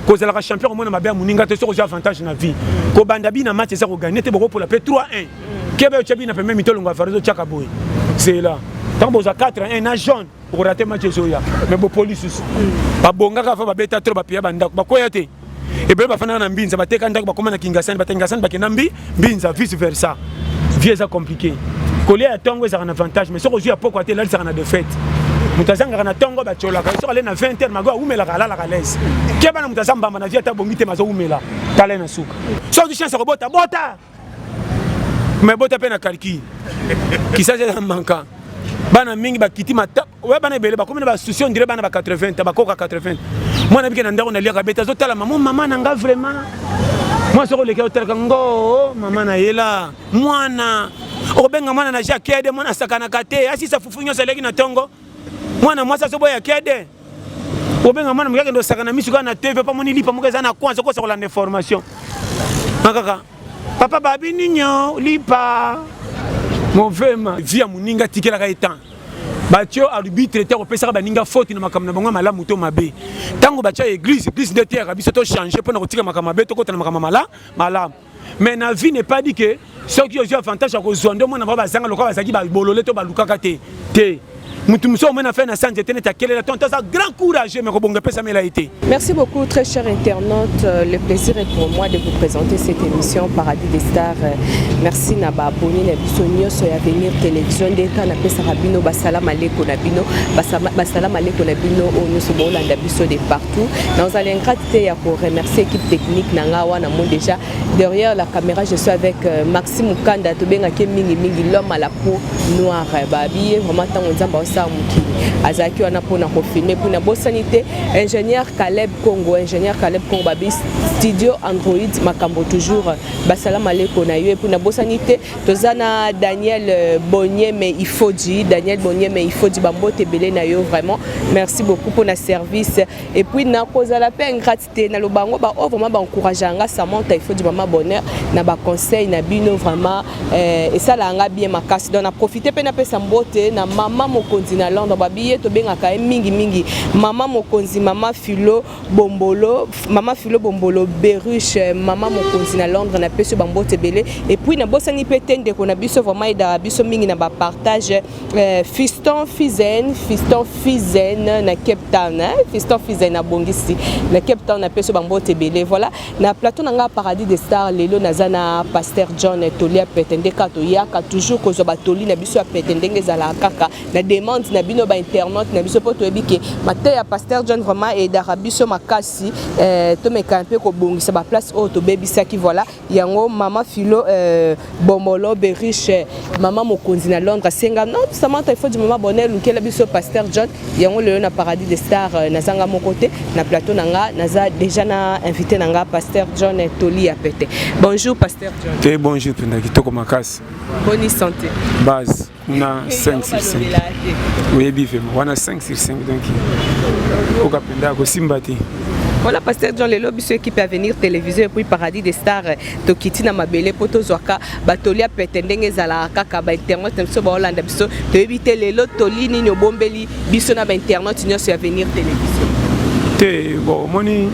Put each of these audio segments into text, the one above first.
kozalaka champion komona mabe ya moninga te soki ozwi avantage na vie kobanda bi na match eza koganye te bokopola mpe 3 1 kebe otya bi na pembe mitolongo ya varezo otyaka boye zela ntango bozwa 4 1 na jaune okorate match ezoya me bopoli susu babongaka afa babeta tro bapiya bandako bakweya te ebele bafandaka na mbinza bateka ndako bakoma na kingasani bakingasani bakenda mbi mbinza vice versa vie eza compliqué kolia ya ntongo ezalaka na avantage mais soki ozwi ya pokwa te elalisaka na defaite moto azangaka na ntongo batyolaka soki ale na 20 heure mago awumelaka alalaka lese ke bana moto aza mbamba na vie ata bongi te mazowumela tala na suka soki ozwi chance ya kobota bota mais bota mpe na calcul kisasi eza manka bana mingi bakiti mata oya bana ebele bakomi na basusi on dirait bana ba 80 ta bakoka 80 mwana bike na ndako na liaka beta azotala mama mama na nga vraiment mwa soko oleki otalaka ngo oh, mama na yela mwana okobenga mwana na ja kede mwana asakanaka te asisa fufu nyonso aleki na ntongo mwana mwasi azoboya kede obenga mwana moke akende osakana misu kaka na tv mpo amoni lipa moko eza na kwanza okosakola na information akaka papa babi ninyo lipa mofema vi ya moninga tikelaka ye temps batio arbitre te akopesaka baninga foti na makambo na bango ya malamu to mabe ntango batya eglise eglise nde teyaka biso tochange mpo na kotika makambo mabe tokota na makambo mala malamu mais na vie n'est pas dit que soki ozwi avantage ya kozwa nde omona bango bazanga lokola bazalaki babolole to balukaka te te mutu mosusu omona fe na sanje te neti akelela tonto aza grand courageux mais kobonga epesamela ye te merci beaucoup très cher internaute euh, le plaisir est pour moi de vous présenter cette émission paradis des stars euh, merci na baaboni na biso nyonso ya venir télévision nde ntango napesaka bino basala maleko na bino basala maleko na bino oyo oh, nyonso boolanda biso de partout nazali ingrate te ya koremercier équipe technique na ngai wana mo déjà Derrière la caméra, je suis avec euh, Maxime Mukanda, tobengaki ye mingi mingi l'homme à la peau noire. Babi ye vraiment ntango nzambe aosala mokili azalaki wana mpo na kofilme mpo nabosani te ingénieur Caleb Congo ingénieur Caleb Congo babi studio Android makambo toujours basala maleko na yo epuis nabosani te toza na Daniel euh, Bonyeme Ifoji Daniel Bonyeme Ifoji bambote ebele na yo vraiment merci beaucoup mpo na service epuis nakozala mpe ingrati te na loba yango ba oyo oh, vraiment ba encouragea nga Samantha il faut du maman bonheur na ba conseil na bino vraiment eh, esala nga bien makasi donc na profiter pe na pesa mbote na maman mokonzi na Londres ba biye to benga ka mingi mingi maman mokonzi maman Philo Bombolo maman Philo Bombolo Beruche eh, maman mokonzi na Londres na pesi ba mbote belé et puis na bosani pe tende ko na biso vraiment eda biso mingi na ba partage Eh, fiston fizen fiston fizen na cape town eh? fiston fizen abongisi na cape town napesi yo bambote ebele voilà na plateau na ngai paradis de star lelo naza na paster john toli ya pete nde kaka toyaka toujours kozwa batoli na biso ya pete ndenge ezalaka kaka na demande na bino bainternaute na biso mpo toyebi ke mateya ya paster john vraiment edaka biso makasi eh, tomekana mpe kobongisa baplace oyo tobebisaki voilà yango mama filo euh, bomolo beriche mama mokonzi na londres asenga non samanta il faut du mama bonheur lukela biso pasteur john yango lelo na paradis de star euh, nazanga moko te na plateau na nga naza déjà na invité na nga pasteur john toli ya pete bonjour pasteur john te eh, bonjour mpenza kitoko makasi boni santé base na 5 sur 5 oyebi vraimen wana 5 sur 5 donc oka mpenza akosimba te voilà pasteur jean lelo biso équipe avenir télévision epuis paradis des stars tokiti na mabele mpo tozwaka batoli ya pete ndenge ezalaka kaka bainternet na biso baolanda biso toyebi te lelo toli nini obombeli biso na bainternet nyonso ya avenir télévision te bon omoni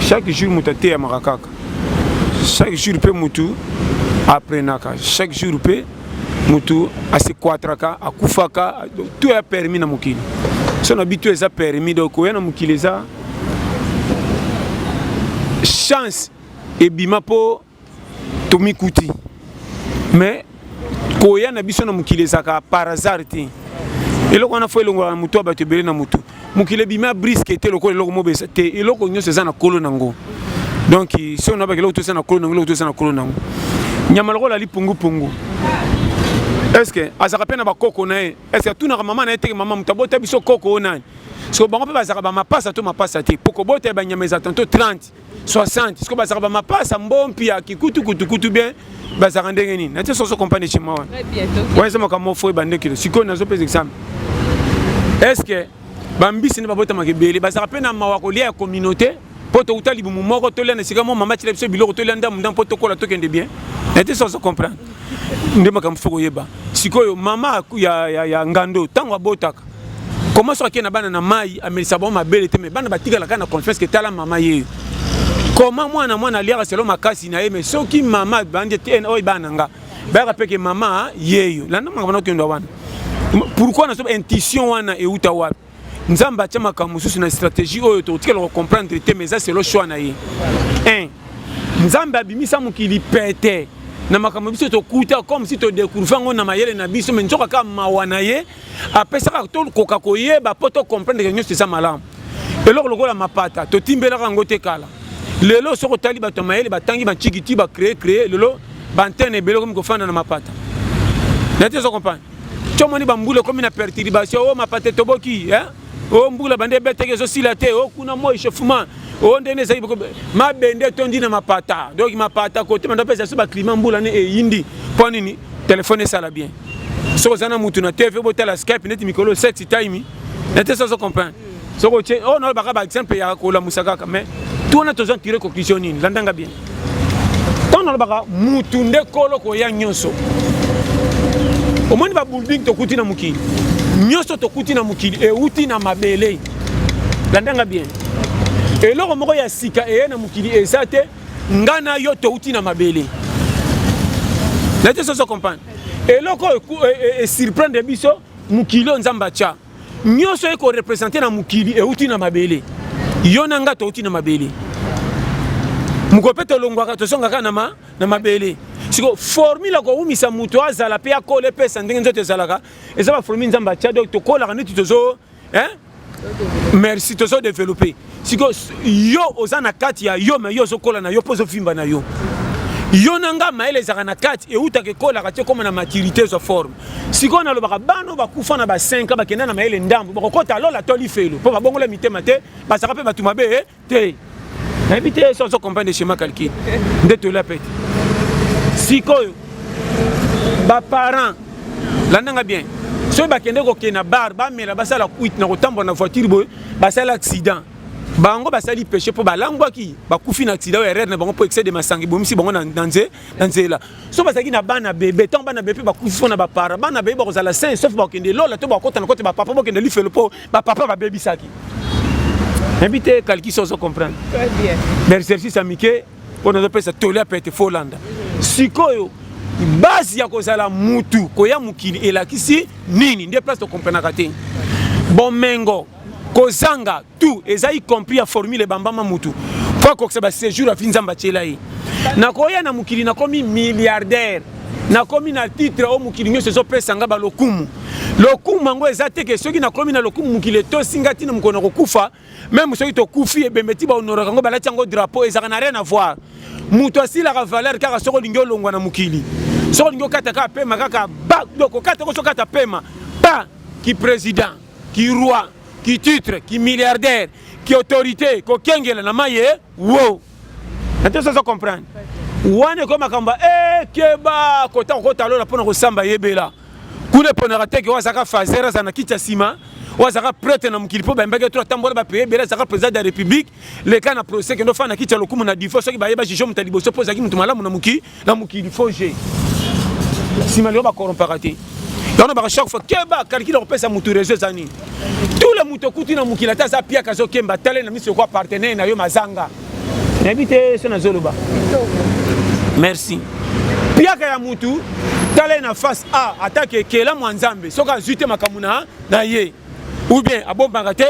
chaque jour moto ateyamaka kaka chaque jour mpe motu aprenaka chaque jour mpe mutu asequatraka akufaka to ya permis na mokili so na bitu eza permis donc koya na mokili eza chance ebima mpo tomikuti mais koya na biso na mokili ezalaka par hasard te eloko wana fo elongolaka na motu ya bato ebele na motu mokili ebimi abriske te lokola eloko mobesa te eloko nyonso eza na kolo nango donc si on abaki eloko toza na kolo nango eloko toza na kolo nango nyama lokola ali pungupungu estce azalaka mpe na bakoko na ye estce atunaka mama na ye teke mama moto abota biso koko oyo nani so bango mpe bazalaka bamapasa to mapasa te mpo kobota ya banyama eza tanto 30 60 sikoyo bazalaka bamapasa mbompi ya kikutu kutukutu bien bazalaka ndenge nini natie soso compagnie chez moi wana wana eza makambo mofo ebande kilo sikoyo nazopesa example est ce que bambisi nde babotamaka ebele bazalaka mpe na mawa kolia ya communauté mpo touta libumu moko tolia na esika mwa mama atyela biso biloko tolia ndambo ndambo mpo tokola tokende bien na te soso comprendre nde makambo fo koyeba sikoyo mama ya, ya, ya ngando ntango abotaka Comment soki na bana na mai amelisa bango mabele te mais bana batikala kaka na confiance ke tala mama ye comment mwana mwana aliaka selo makasi na ye mais soki mama bandi te oyo bana nga bayaka mpe ke mama yeyo landa makambo na okenda wana pourquoi naso intuition wana euta wapi nzambe atya makambo mosusu na stratégie oyo tokotikala kocomprendre te mais eza selo choix na ye 1 nzambe abimisa mokili pete na makambo biso tokuta comme si todecouvre yango na mayele na biso me nzoka kaka mawa na ye apesaka tokoka koyeba mpo to comprendre ke nyonso eza malamu eloko lokola mapata totimbelaka yango te kala lelo soki otali bato ya mayele batangi bancikiti bacree cree lelo baantene ebele okomi kofanda na mapata nayete ozo comprendre comoni bambula ekomi na perturbation o oh, mapata etoboki eh? o oh, mbula bande ebeteke ezosila te o oh, kuna moi chauffement o oh, ndenge ezali mabende etondi na mapata donc mapata kote banda mpesa biso baclima mbula ne eyindi mpo nini telefone esala bien soki oza na motu na tv botala skype neti mikolo sexy time nete sozo comprendre soki otie oyo nalobaka baexemple ya kolamusa kaka mais tuna tozwa tire conclusion nini landanga bien ntango nalobaka mutu nde kolo koya nyonso omoni babulding tokuti na mokili nyonso tokuti na mokili euti na mabele landanga bien eloko moko ya sika eye na mokili eza te ngai na yo touti na mabele naye te soso comprendre eloko esurprendre e, e, e biso mokili oyo nzambe atya nyonso eko represente na mokili euti na mabele yo na ngai touti na mabele mokolo mpe tolongwaka tozongaka na, ma, na mabele siko formule ya kowumisa moto azala mpe akola epesa ndenge nzoto ezalaka eza baformule nzambe atya donc tokolaka neti tozo eh? merci tozo developpe siko yo oza na kati ya yo me yo ozokola na yo mpo ozofimba na yo yo na nga mayele ezalaka na kati eutaka ekolaka te ekoma na maturité ezwa forme sikoyo nalobaka bana oyo bakufa na ba 5 ans bakenda na mayele ndambo bakokota lola to lifelo mpo babongola mitema te bazalaka mpe bato mabe eh, te nayebi te so azo comprendre schéma calcul nde toyela mpe te sikoyo baparent landanga bien soki bakende kokende na bar bamela basala kuite na kotambola na voiture boye basali accident bango basali peche mpo balangwaki bakufi na accident oyo erreur na bango mpo excès de masanga ebomisi bango na nzela so bazalaki na bana bebe ntango bana bebe bakufi mpo na bapara bana bebe bakozala sain sauf bakokende lola to bakota na kote bapapa bakokende lifelo mpo bapapa babebisaki nayebi te kalkisi ozo comprendre bersersis ya mike oyo nazopesa toli ya pete fo olanda sikoyo base ya kozala mutu koya mokili elakisi nini nde place tokomprenaka te bomengo kozanga tout eza y compris ya formule ebambama mutu mpo akokisa basejour afi nzambe atyela ye nakoya na mokili nakomi milliardaire nakomi na titre oyo mokili nyonso ezopesa nga balokumu lokumu yango eza te ke soki nakomi na lokumu mokili etosi nga ntina mokolo na kokufa meme soki tokufi ebembe ti bahonoraka yango balati yango drapeau ezalaka na rien avoir moto asilaka valeur kaka soki olingi olongwa na mokili soki olingi okata kaka pema kaka ba donc okata ko sokata pema pa ki président ki roi ki titre ki milliardaire ki autorité kokengela na maye wo na te sozo comprendre wana ekomi makambo ekeba eh, kota kokota lola mpo na kosamba yebela kuna eponaka teke oyo azalaka fazer aza na kiti ya nsima oyo azalaka prete na mokili mpo bayembaki to atambola bapaye ebele azalaka président de la république leka na procès kende ofana na kiti ya lokumu na difo soki baye bajuge moto ya liboso mpo ozalaki moto malamu na mokili na mokili faux jeu nsima lelo bakorompaka te yango baka chaque fois keba kalikili akopesa motu réseau eza nini tule moto okuti na mokili ata aza piaka azokemba tale na miso yoko apartenaire na yo mazanga nayebi te so nazoloba merci piaka ya motu tala ye na face a atake ekelamu ya nzambe soki azwi te makambo na ye ou bien abombaka te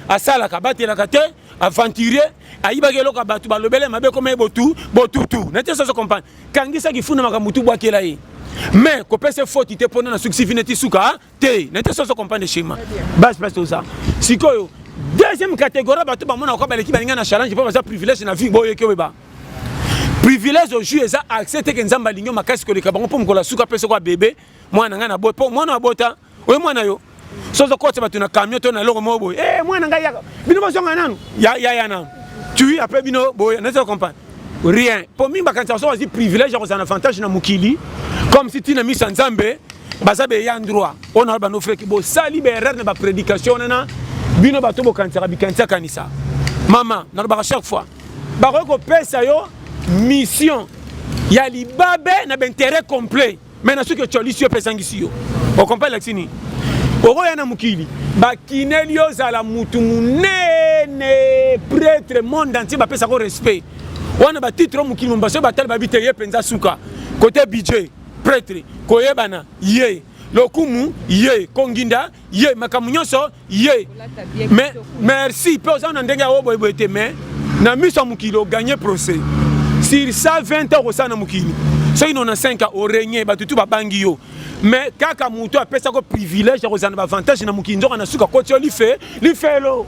asalaka abatelaka te aventurier ayibaki eloko ya bato balobele mabe ekoma ye botu botutu na te soso comprendre kangisaki funa makambo tu bwakela ye mais kopesa ye foti te mpona nasukisi vi neti suka ah, te na te soso comprendre schéma base place toza sikoyo deuxième catégorie bato bamonaka kwa baleki balinga na challenge mpo baza privilège na vie boyeki oyeba privilège ojui eza accès teke nzambe alingi makasi koleka bango mpo mokolo asuka mpe soko abebe mwana ngai na boye mpo mwana abota oye mwana yo sozo kotisa bato na camion to na eloko moko boye e mwana ngai yaka bino bozonga nanu yaya nanu tui apres bino boye nazo comprendre rien mpo mingi bakanisaka soki bazwi privilège ya kozala na avantage na mokili comme si ntina miso ya nzambe baza beya ndroit oyo na bando freki bosali baerreur na baprédication wana na bino bato bokanisaka bikanisi akanisa mama nalobaka chaque fois bakoki kopesa yo mission ya libabe na baintérêt complet mais na soki ocolisi yo mpe ezangisi yo okompa elakisi nini okoya na mokili bakineli yo ozala mutu monene pretre monde entier bapesako respect wana batitre o mokili mombasa oyo batali babi te ye mpenza suka kote budget pretre koyebana ye lokumu ye konginda ye makambo nyonso ye mais merci mpe oza na ndenge ya oyo boyeboye te mais na miso ya mokili oganye procès sur 120 ans okosala na mokili soki nona 5 ans oregne bato tu babangi yo mais kaka moto apesaki yo privilège ya kozala na baavantage na mokili nzoka na suka koti yo life lifelo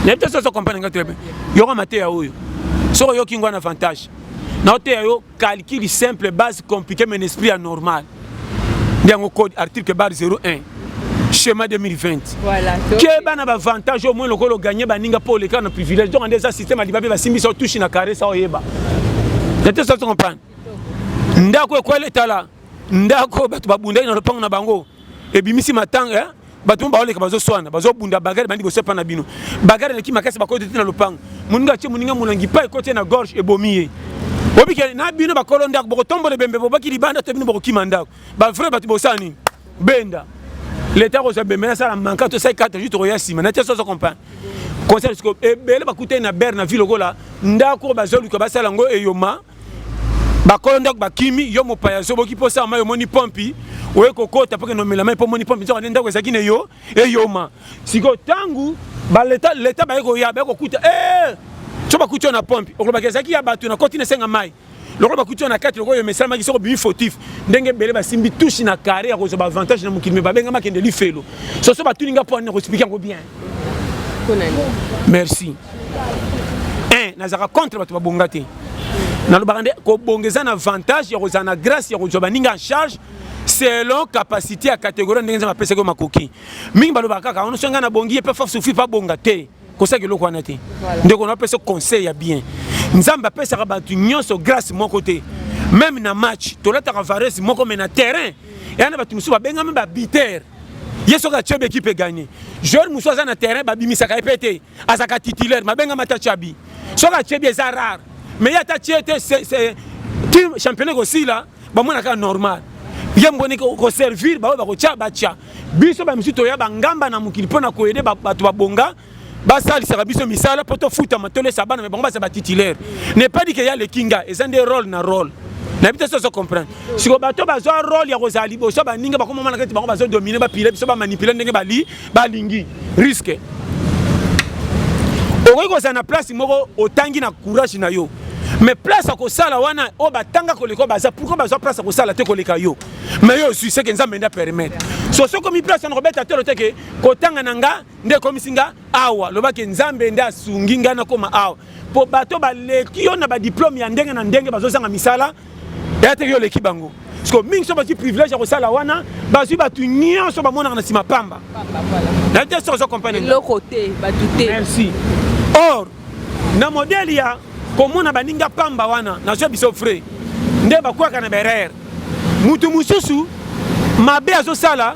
nayebi te soso comprendre nga très bien yoka mateya oyo soki oyoki ngwa na avantage naoteya yo calcul simple base compliqué mais esprit ya normal nde yango code article bar 01 schéma 2020 voilà, keba na bavantage au moins lokola oganye baninga mpo oleka na privilège donc nde eza système alibabe basimbisa otushi na karesa oyeba ete soki comprendre ndako ekweli etala ndako bato babundaki na lopango na bango ebimisi matanga eh? bato baoleka bazoswana bazobunda bagare bandi bosepa na bino bagare eleki makasi bakoti te na lopango moninga atie moninga molangi pa ekoti ye na gorge ebomi ye obike na bino bakolo ndako bokotombola ebembe bobaki libanda to bino bokokima ndako bavrai bato bosala nini benda leta akozwa bembe nasala manka tosali kata ju tokoya nsima na te soso comprendre conseil siko ebele bakutani na bere na ville lokola ndako bazoluka basala yango eyoma bakolo ndako bakimi yo mopaya ozoboki mpo osala mai omoni pompi oye kokota mpo kende omela mai mpo omoni pompi nzoka nde ndako ezalaki na eyo eyoma sikoyo ntango baleta leta baye koya baye kokuta e so bakuti yo na pompi okolobaki ezalaki ya bato nakoti na esenga mai lokola bakuti yo na kati lokola oyo mesalamaki soko bimi fautif ndenge ebele basimbi tushi na kare ya kozwa baavantage na mokili me babengamaki ende lifelo soso batuni nga mpo ani na koexplike yango bien merci eh, nazalaka contre bato babonga te nalobaka nde kobonga eza na avantage ya kozala na grâce ya kozwa baninga en charge selon capacité ya catégorie ndenge nzambe apesaki yo makoki mingi balobaka kaka ono so ngai nabongi ye mpe fa sufi mpe abonga te kosaki eloko wana te ndeko na apesa conseil ya bien nzambe apesaka bato nyonso grâce moko te meme na match tolataka varese moko me na terrain eya na bato mosusu babengami babitere ye soki atye be ekipe egagne joueur mosusu aza na terrain babimisaka ye mpe te azalaka titulaire mabengama ata chabi soki atye bi eza rare mais ye ata tye te ti championnat ekosila bamonaka normal ye mboni koservir baoyo bakotya batya biso bamisusu toya bangamba na mokili mpo na koyede bato babonga basalisaka biso misala mpo tofutama tolesa bana me bango baza batitulaire ne pas dit ke ya leki nga eza nde role na role nayebi te soso comprendre siko bato bazwa role ya kozala liboso baninga bakomomanaka ete bango bazodomine bapile biso bamanipule ndenge bali balingi riske okoki kozala na place moko otangi na courage na yo mais place ya kosala wana oyo batanga koleka baza pourkoi bazwa place ya kosala te koleka yo mais yo ozwi seke nzambe nde apermettre so soki omi place wana kobeta tolo te ke kotanga na nga nde ekomisi nga awa loba ke nzambe nde asungi ngai nakoma awa mpo bato baleki yo na badiplome ya ndenge na ndenge bazozanga misala eya teke yo oleki bango siko mingi so bazwi privilège ya kosala wana bazwi bato nyonso bamonaka na nsima pamba nayebi te soki ozo comprendreeloko te bato te merci or na modele ya komona baninga pamba wana nazwa biso frais nde bakwaka na berere moto mosusu mabe azosala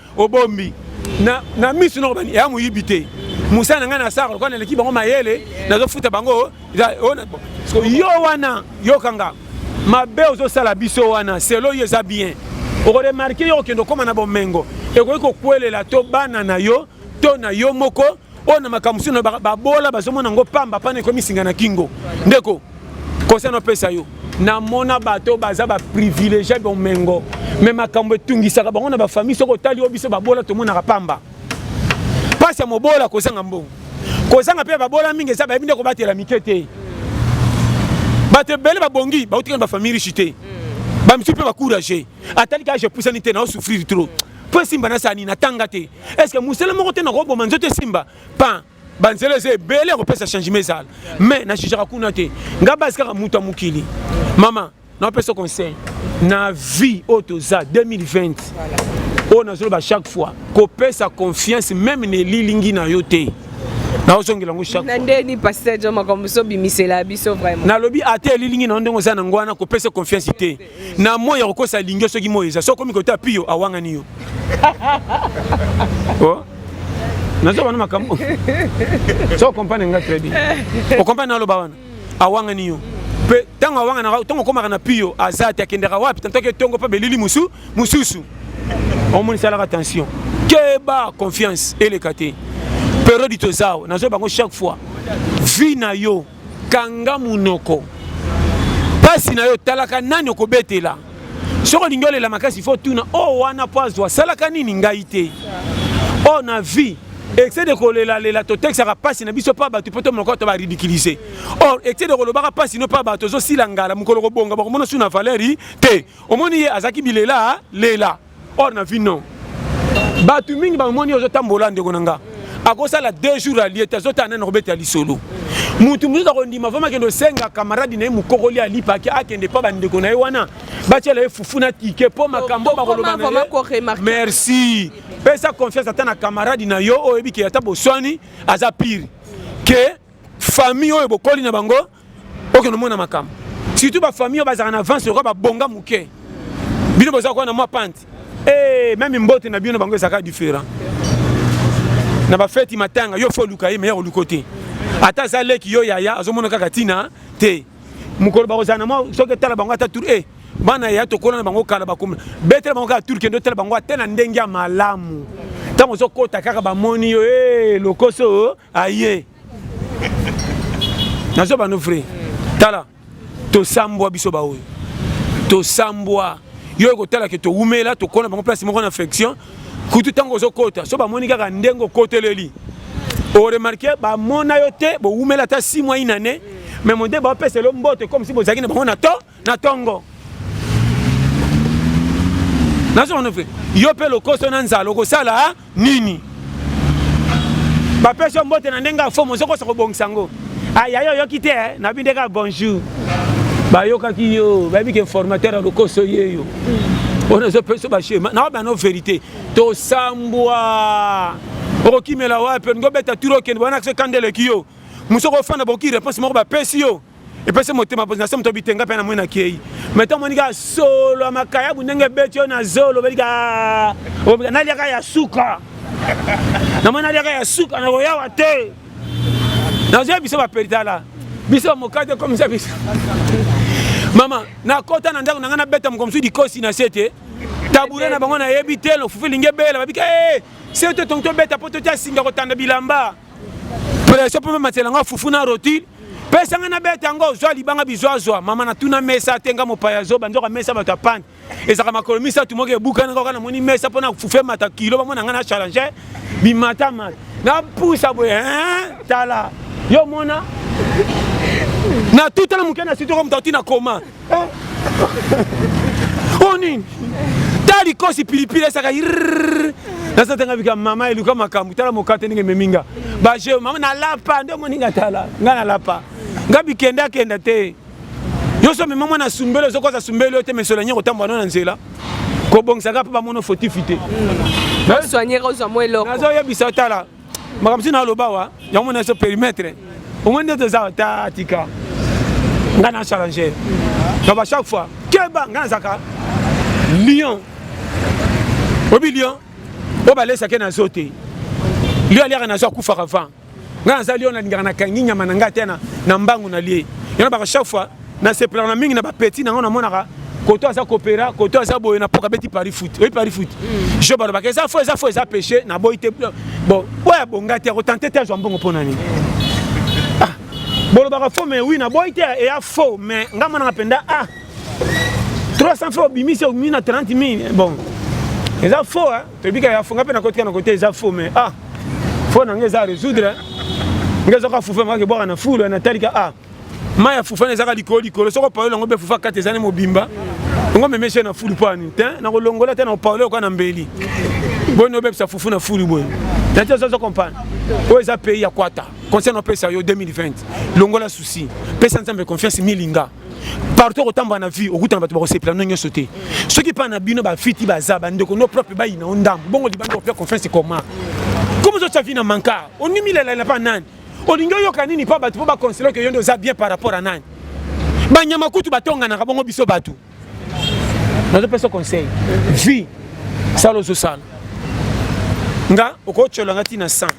obombi na, na misu noko bani ya moyibi te mosala na ngai na sara lokola naleki bango mayele nazofuta bango yo wana yokanga mabe ozosala biso wana selo yo eza bien okoremarke yo okende okoma na bomengo ekoki kokwelela to bana na yo to na yo moko oyo na makambo sino babola bazomona yango pamba mpana ekomisinga na kingo ndeko conseil napesa yo namona bato oyo baza baprivilegie bomengo me makambo etungisaka bango na bafamille soki otali yo biso babola tomonaka pamba mpasi ya mobola kozanga mbongo kozanga mpe babola mingi eza bayebi nde kobatela mike te bato ebele babongi bautikana bafamille riche te bamisusu mpe bacourage atali kaka je pusani te naosouffrir trop po esimba na sani na tanga te est ce que mosala moko te nakoboma nzoto esimba pan banzela eza ebele ya kopesa changement ezala mais na jugaka kuna te ngai basi kaka moto ya mokili mama napesa conseil na vie oyo toza 2020 oyo nazoloba chaque fois kopesa confiance meme na elilingi na yo te naozongela yango chaknandeni pasteur jo makambo so bimisela biso vraiment nalobi ata elilingi na yo ndenge oza na yango wana kopesa confiance te na moi ya kokosa lingi yo soki moi eza soki okomi kota pio awangani yo oh? nazo bana makambo so okompane nga très bien okompane naloba wana awangani yo mpe ntango awanganaka ntango okomaka na pio aza te akendaka wapi tantoki etongo mpe belili mosu mosusu omonisalaka tension keba confiance eleka te periode tozawa nazo bango chaque fois vie na yo kanga munoko pasi na yo talaka nani okobetela soki olingi olela makasi fo tuna o oh, wana mpo azwa asalaka nini ngai te o oh, na vie excès de kolelalela totekisaka mpasi na biso mpa bato mpo tomonaka to baridikilize or excès de kolobaka mpasi no mpa bato ozosila ngala mokolo kobonga bakomona su na valeri te omoni ye azalaki bilela lela or na vie non bato mingi bamoni ozotambola ndeko na nga akosala deux jours alie te azotala nani akobeta lisolo motu mosusu akondima vraimen akende osenga kamaradi na ye mokokoli alipaki akende mpa bandeko na ye wana batyela ye fufu na tike mpo makambo bakoloba na ye merci pesa confiance ata na kamaradi na yo oyo oyebi ke ata boswani aza pire ke famille oyo bokoli na bango okende omona makambo surtout bafamille oyo bazalaka na avance lokola babonga moke bino boza koya na mwa pante e eh, meme mbote na bino bango ezalaka différent na bafeti matanga yo fo oluka ye meya oluko te ata aza leki yo yaya azomona kaka ntina te mokolo bakozala na mwa soki etala bango ata tour e eh, bana yaya tokola na bango kala bakoma betela bango kaka tour kende otala bango ata na ndenge ya malamu ntango ozokota kaka bamoni yo e lokoso aye nazo bano vrai tala tosambwa biso baoyo tosambwa yo ekotala ke towumela tokona bango place moko na infection kutu ntango ozokota so bamoni kaka ndenge okoteleli oremarke bamona yo te bowumela ata 6 mois inane mais mode baopesa elo mbote comme si bozalaki na bango na to na tongo nazomona fe yo mpe lokoso na nzala okosala nini bapesi yo mbote na ndenge ya fomo ozokosa kobongisa yango aya yo oyoki te eh? nabi nde kaka bonjour bayokaki yo bayebi ke formateur ya lokoso ye yo oyo ezopesa bashema na bana verité tosambwa okokimela wapi olingi obeta turo okende bana kise kanda eleki yo mosu okofanda boki réponse moko bapesi yo epesi motema mpozi na se moto obitenga mpe na moi nakei mai ntango moni kaka solo ya makayabu ndenge ebeti oyo na zolo obeli ka naliaka ya suka namoni naliaka ya suka nakoyawa te nazoya biso baperitala biso bamokate komisa biso mama nakota na ndako na ngai nabeta moko mosusu likosi na se te tabure na bango nayebi te lofufu elingi ebela babika e eh, se to tongi tobeta mpo totya singa kotanda bilamba pression mpe mamatela nga fufu na rotile pesa nga nabeta yango ozwa libanga bizwazwa mama natuna mesa te nga mopaya zoba nzoka mesa bato ya pane ezalaka makolo misato moko ebukana kaka namoni mesa mpo na fufu emata kilo bamona nga na challenge bimatamata napusa boye tala yo mona na tutala moke na sitoko moto auti na koma o nini ta likosi pilipili esaka naza tanga bika mama eluka makambo tala mokate ndenge ememi nga bajeo mama nalapa nde omoni nga tala nga nalapa nga bikende akenda te yo so mema mwana sumbele ozokoza sumbele yo te mesola nye kotambola no na nzela kobongisaka mpe bamono fotifi te nazoyebisa tala makambo ntina aloba wa yango mona so perimetre omoi nde toza ta tika ngai na challenger donc à chaque fois keba ngai nazaka lion obi lion oyo balesake na zo te lion aliaka na zo akufaka vent ngai naza lion nalingaka nakangi nyama na ngai te na mbangu na lie yango baka chaque fois Na sepela na mingi na ba petit na ngo na monaka koto aza kopera koto aza boye na poka beti paris foot oui paris foot mm. je bana bakeza fo eza fo eza péché na boy te bon oya bonga te ko tenter te azwa mbongo pona nini ah bolobaka fo mais oui na boy te eya fo mais nga monaka penda ah 300 fo obimisi obimi na 30 000 bon eza fo hein tobika ya fo nga pe na kotika na kote eza fo mais ah fo na nga eza résoudre nga ezoka fufu nga ke bwaka na fulu na talika ah mai ya fufana ezaka likolo likolo soko paolo yango mpe fufa kati ezali mobimba yango memeshe na fulu pani te nakolongola te na paolo yoka na mbeli boni obebisa fufu na fulu boye nati ozozo comprendre oyo eza pays ya kwata conseil napesa yo 2020 longola souci pesa nzambe confiance milinga partout okotambola na vie okutana bato bakosepela no nyonso te soki mpa na bino bafiti baza bandeko no propre bayina o ndambo bongo libanda kopia confiance ekoma comme ozotya vi na manka onimilelela mpa nani olingi oyoka nini mpo bato mpo bakonsele oke yo nde oza bien par rapport a nani banyama kutu batonganaka bongo biso bato nazopesa conseil vie sala ozosala nga okotyola nga ntina 100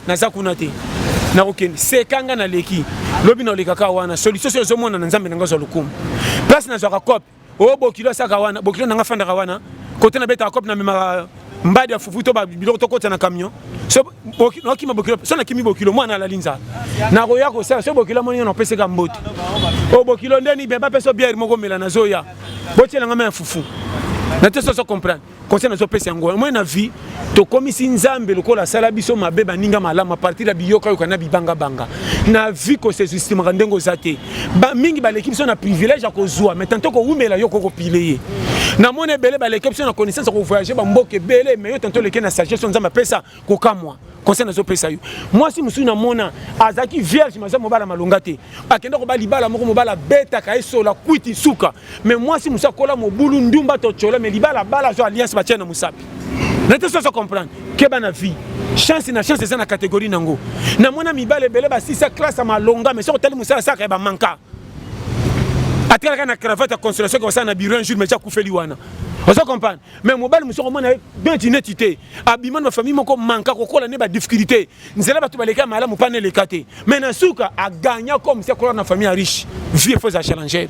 naza kuna te nakokende seka nga naleki lobi na olekaka wana solution soki ezomonana nzambe na nga azwa lokumu place nazwaka cope o bokilo asaka wana bokilo nanga afandaka wana kote na betaka cope na memaka mbadi ya fufu to biloko tokota na camion nakima bokilo so nakimi bokilo mwana alali nzala nakoya kosala so bokilo amoni yo napeseka mbote o oh, bokilo ndeni bemba peso biere moko mela nazoya botyelanga ma ya fufu na te soso comprendre conseil nazo pesa yango omoi na vie tokomisi nzambe lokola asala biso mabe baninga malamu apartir ya biyokayoka na bibangabanga na vie kosesistimaka ndenge oza te mingi baleki biso na privilège ya kozwa mai tanto kowumela yo kokopile ye namoni ebele baleki biso na connaissance ya kovoyage bamboka ebele mai yo tanto oleki na sagesse nzambe apesa kokamwa conseil nazopesa yo mwasi mosusu namona azalaki vierge maza mobala malonga te akenda koba libala moko mobala abetaka esola kwiti suka me mwasi mosusu akola mobulu ndumba to tsholo me libala abala azwa alliance batia na mosapi na te soso comprendre keba na vie chance na chance eza na catégorie nango namona mibala ebele basisa classe ya malonga me soki otali mosala asaka ya bamanka atikala kaka na cravate ya consolation kosala na bureau un jour me ti akufeli wana ozo comprendre mais mobali mosusu akomona ye neti neti te abima na bafamille moko manka kokola nde badifficulté nzela bato baleka ya malamu mpa neleka te mais na suka agagna comme si akola na famille ya riche vie efo eza challenger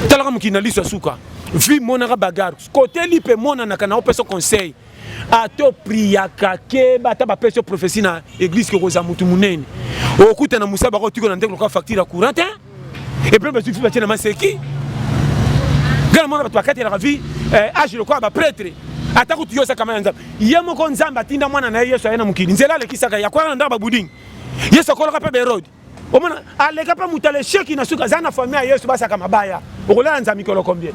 talaka mokili na liso ya suka vie monaka bagare koteli mpe monanaka na opesa conseil ato priaka keba ata bapesi yo prophesie na eglise kokozala motu monene okutana mosala bakotiko na ndeko lokola facture ya courant te et puis bazwi batie na maseki ngana mona bato bakatelaka vi eh, age lokola bapretre ata kutu yo osaka ya nzambe ye moko nzambe atinda mwana na ye yesu aye na mokili nzela alekisaka yakwaka na ndako babudingi yesu akolaka mpe baerode omona aleka mpe moto alesheki na suka aza na fami ya yesu basaka mabaya okolala nzambe mikolo combien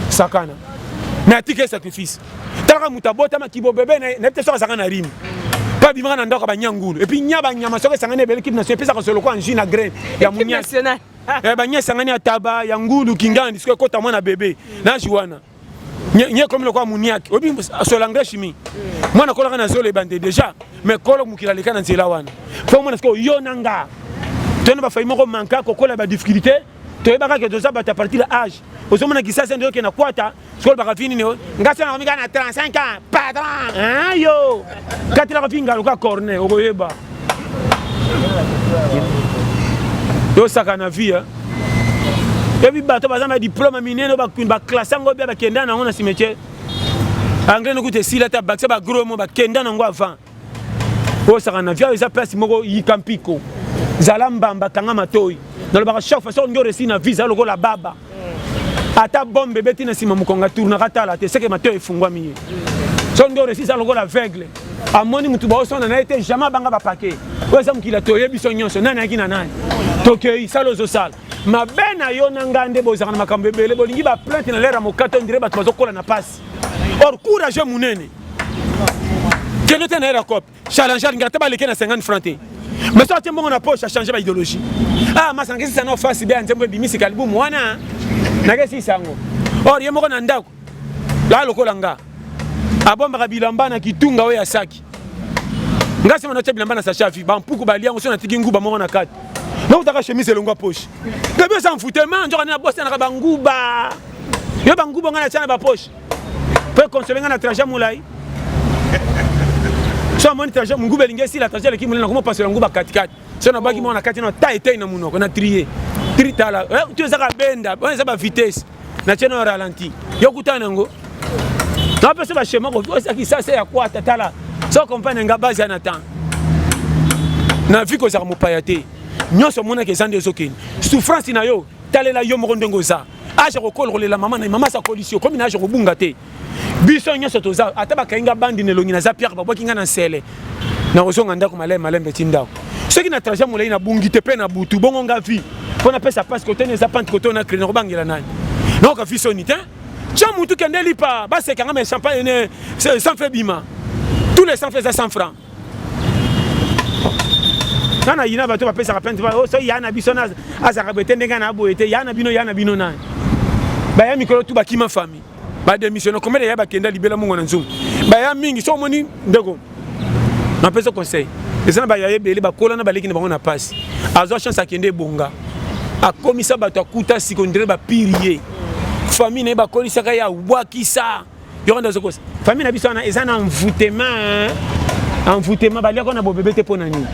sakana me atika ye sacrifice talaka moto abotama kibobebe na ye nayebi te soki azalaka na rime mpe abimaka na ndako ya banyangulu epuis nya banyama soki esangani ebele kipe national epesaka solo kwa nji na graine ya monyasi eh, banya esangani ya taba ya ngulu kingandi soki ekota mwana bebe naji wana nye ekomi lokola muniaki oyebi solo engrais chimie mwana akolaka na zolo ebande déjà mais kolo mokili aleka na nzela wana mpo omona sikoyo yo na nga toyena bafai moko manka kokola badifficulté toyebaka ke toza bato ya partir ya age ozomona kisasa nde okenda kwata Skol baka fini ne nga sona komika na 35 ans patron hein yo katela ko finga loka corne okoyeba yo saka na vie hein ebi bato baza na diplôme minene baklasse yango bia bakenda nango na cimetière engrais nokuta esila te bakisa bagros mo bakenda nango avant osaka na viao eza place moko yika mpiko zala mbamba kanga matoi nalobaka chaque fois soki ndio resi na visa lokola baba ata bombe ebeti na nsima mokonga tournaka tala te seke matoi efungwami ye soki ndio resi eza lokola aveugle amoni motu baosonda na ye te jamais abanga bapake oyo eza mokili toyebi biso nyonso nani ayaki na nani tokei sala ozosala mabe na yo na ngai nde bozalaka na makambo ebele bolingi baplainte na lere ya mokato ndire bato bazokola na pasi Mati or courageux munene kende te na era cop challenger nga te baleke na 50 francs te mais soki atie mbongo na poche achange ba idéologie ah masangisi sana ofasi bea nzembo ebimisi kalibumu wana nakesi sango or ye moko na ndako la lokola nga abombaka bilamba na kitunga oyo ya saki nga sema natia bilamba na sachavi bampuku balia yango so natiki nguba moko na kati nakutaka chemise elongwa poche gabi oza mfutema nzoka nde nabosanaka banguba yo banguba ngai natya na bapoche mpo ekonsole ngai na trajet molai so amoni trajet monguba elingi esila trajet eleki molai nakoma pasola nguba katikati so nabaki mwana na kati na ta etei na monoko na trie tri tala eh, to ezaka benda oyo eza bavitesse natye na ralenti yo kutana yango napesa bashema koesaki sasa ya kwata tala so compagne nga base ya na temps na vie kozalaka mopaya te nyonso omonaka eza nde ezokende souffrance na yo talela yo moko ndenge oza age kokola kolela mama na mama asakolisi yo komi na age kobunga te biso nyonso toza ata bakangi nga bandi na elongi naza pierre babwaki nga na nsele nakozonga ndako malembe malembe ti ndako soki na trajet molai nabungi te mpe na butu bongo nga vie mpo napesa pasi koteni eza pante koto na kredi nakobangela nani naoka vi soni te tya motu kende lipa baseka nga me champagne ne sans fe bima tous les sans fe eza 100 francs nga na yina bato bapesaka plainte oh, so ya na biso azalaka boye te ndenge na boye te ya na bino ya na bino nani baya mikolo tu bakima fami bademissiona komele ya bakenda libela mongo na nzungu baya mingi so omoni ndeko napesa conseil eza na baya ebele bakola na baleki na bango na pasi azwa chance akende ebonga akomisa bato akuta sikondele bapiri ye fami na ye bakolisaka ye abwakisa yoko nde ozokosa famille na biso wana eza na envoutema envoutema baliaka na bobebe te mpo na nini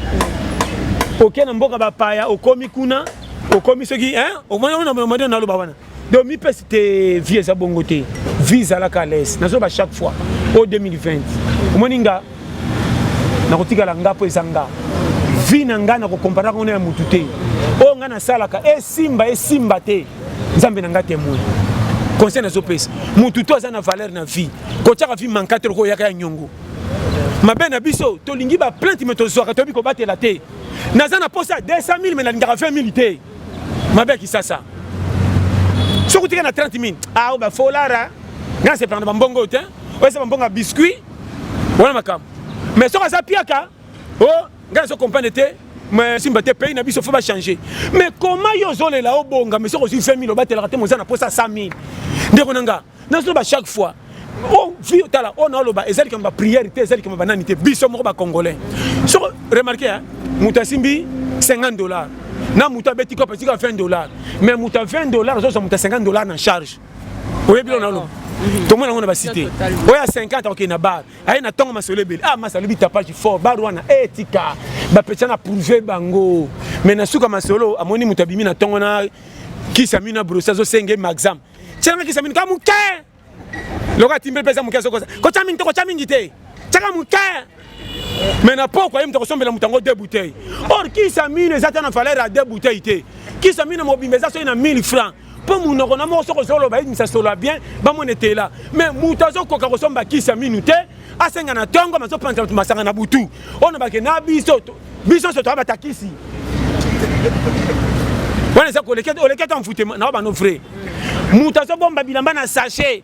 oke na mboka bapaya okomi kuna okomi soki omoni naloba wana donc mipesi te vie eza bongo te vie ezalaka les nazoba chaque fois o 2020 omoni nga nakotikala nga mpo eza nga vie na ngai nakokomparaka ngo na ya motu te oyo ngai nasalaka esimba esimba te nzambe na ngai temoin conseil nazopesa motu to aza na valeur na vie kotyaka vie mankate lokola oyaka ya nyongo mabe na biso tolingi baplainte me tozwaka toyebi kobatela te naza na mposa ya 200 000 me nalingaka 20 000 te mabe ya kisasa soki otika na 30 000 ao bafolara ngai nasepelaka na bambongo oyo te oyo eza bambongo ya biscuit wana makambo mais soki aza piaka o oh, ngai nazo comprendre te mais simba te pays na biso faut ba changer mais comment yo ozolela obonga mais soki ozwi 20 000 obatelaka te moza na posa 100 000 ndeko na nga nazoloba chaque fois o vi tala oyo naoloba eza likambo ba prière te eza likambo banani te biso moko bacongolais soko remarke hein, moto asimbi 50 dollars na moto abeti kope tika 20 dollars mais moto ya 20 dollars azozwa moto ya 50 dollars na charge oyebi oyo naoloba tomona yango na basite oyo ya 50 akokende na bar aye na ntongo masolo ebele ah masa alobi tapage fort bar wana e tika bapetya na prouve bango mais na suka masolo amoni moto abimi na ntongo na kisa mino na brosi azosenge maxam tyelanga kisa mino ka moke lokola timbe mpe eza moke azokosa kotya mingi te kotya mingi te tyaka moke mais na poko aye moto akosombela moto yango deux bouteille or kisa mino eza ta na valeur ya deux bouteille te kisa mino mobimba eza soki na 1000 francs mpo monoko na moko soki ozoloba yebisa solo ya bien bamona etela me moto azokoka kosomba kisi ya minu te asenga na ntongo mazopanza bato masanga na butu oyo na bake na biso biso nyonso toya batakisi wana eza koleketa oleketa mfute na wa bano vrai moto azobomba bilamba na sachet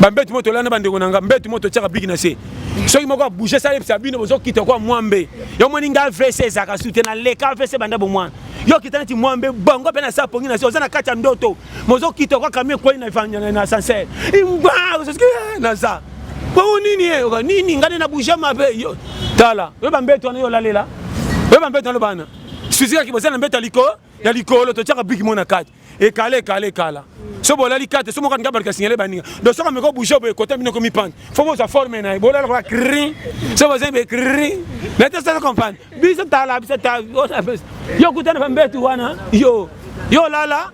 bambeti moto olanda bandeko na nga mbeti moto otyaka bigi na se soki moko abouge sala yebisa bino bozokita kwa mwambe yo moni nga avc ezalaka su te na leka avc banda bomwana yo okita neti mwambe bango mpe nasala pongi na se oza na kati ya ndoto mozokita kwa kamio ekwei na ascenseur imba eh, naza bongo nini ye eh, nini nga nde na bouge mabe tala yo bambeti wana yo olalela yo bambeti wana lobana suzikaki bozala na mbeti ya likolo ya likolo totyaka bigi mo na kati ekala ekala ekala so bolali kate so mokani kabalika signale baninga do soka meko bouge boye kote bino komi pande fo boza forme na ye bolala kola kri so boza be kri na te sasa comprendre biso tala biso ta yo kutana bambetu wana yo yo lala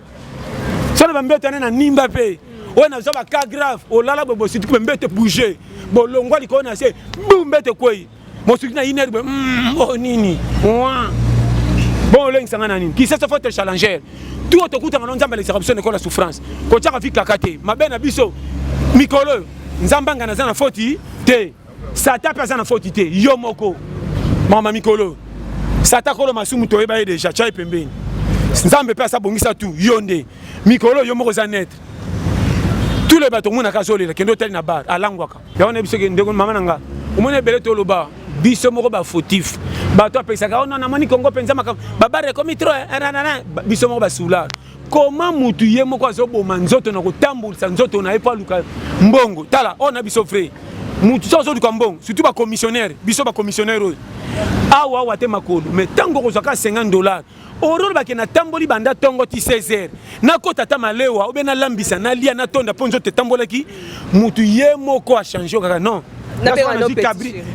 so na bambetu wana na nimba mpe oyo naza baka grave olala boye bosituki bambetu bouge bolongwa likolo na se bu mbetu ekwei mosuki na iner boye mm, oh, nini bon olengisa ngai na nini kisasa fote challenger tuo tokutanga no nzambe alekisaka biso na ekola souffrance kotyaka vi kaka te mabe na biso mikolo oyo nzambe angana aza na foti te sata mpe aza na foti te yo moko mama mikolo sata kolo masumu toyeba ye deja tya ye pembeni nzambe mpe asabongisa tu yo nde mikolo yo moko oza netre tule bato omonaka azolela kende otali na bar alangwaka yango nayebi soki ndeko mama na nga omoni ebele toloba biso moko bafautif bato apesaka ono oh namoni kongo mpenza makambo babare ekomi tro eh, eh, biso moko basular koma mutu ye moko azoboma nzoto na kotambulisa nzoto na ye mpo aluka mbongo tala oyo oh, na biso frai mutu so azoluka mbongo surtout bacommissionnaire biso bacommissionnaire oyo awa awa te makolo mais ntango okozwa ka 50 dollar Aurore bake natamboli banda ntongo ti 16h nakota ata malewa obe nalambisa nalia natonda mpo nzoto etambolaki motu ye moko achange kaka non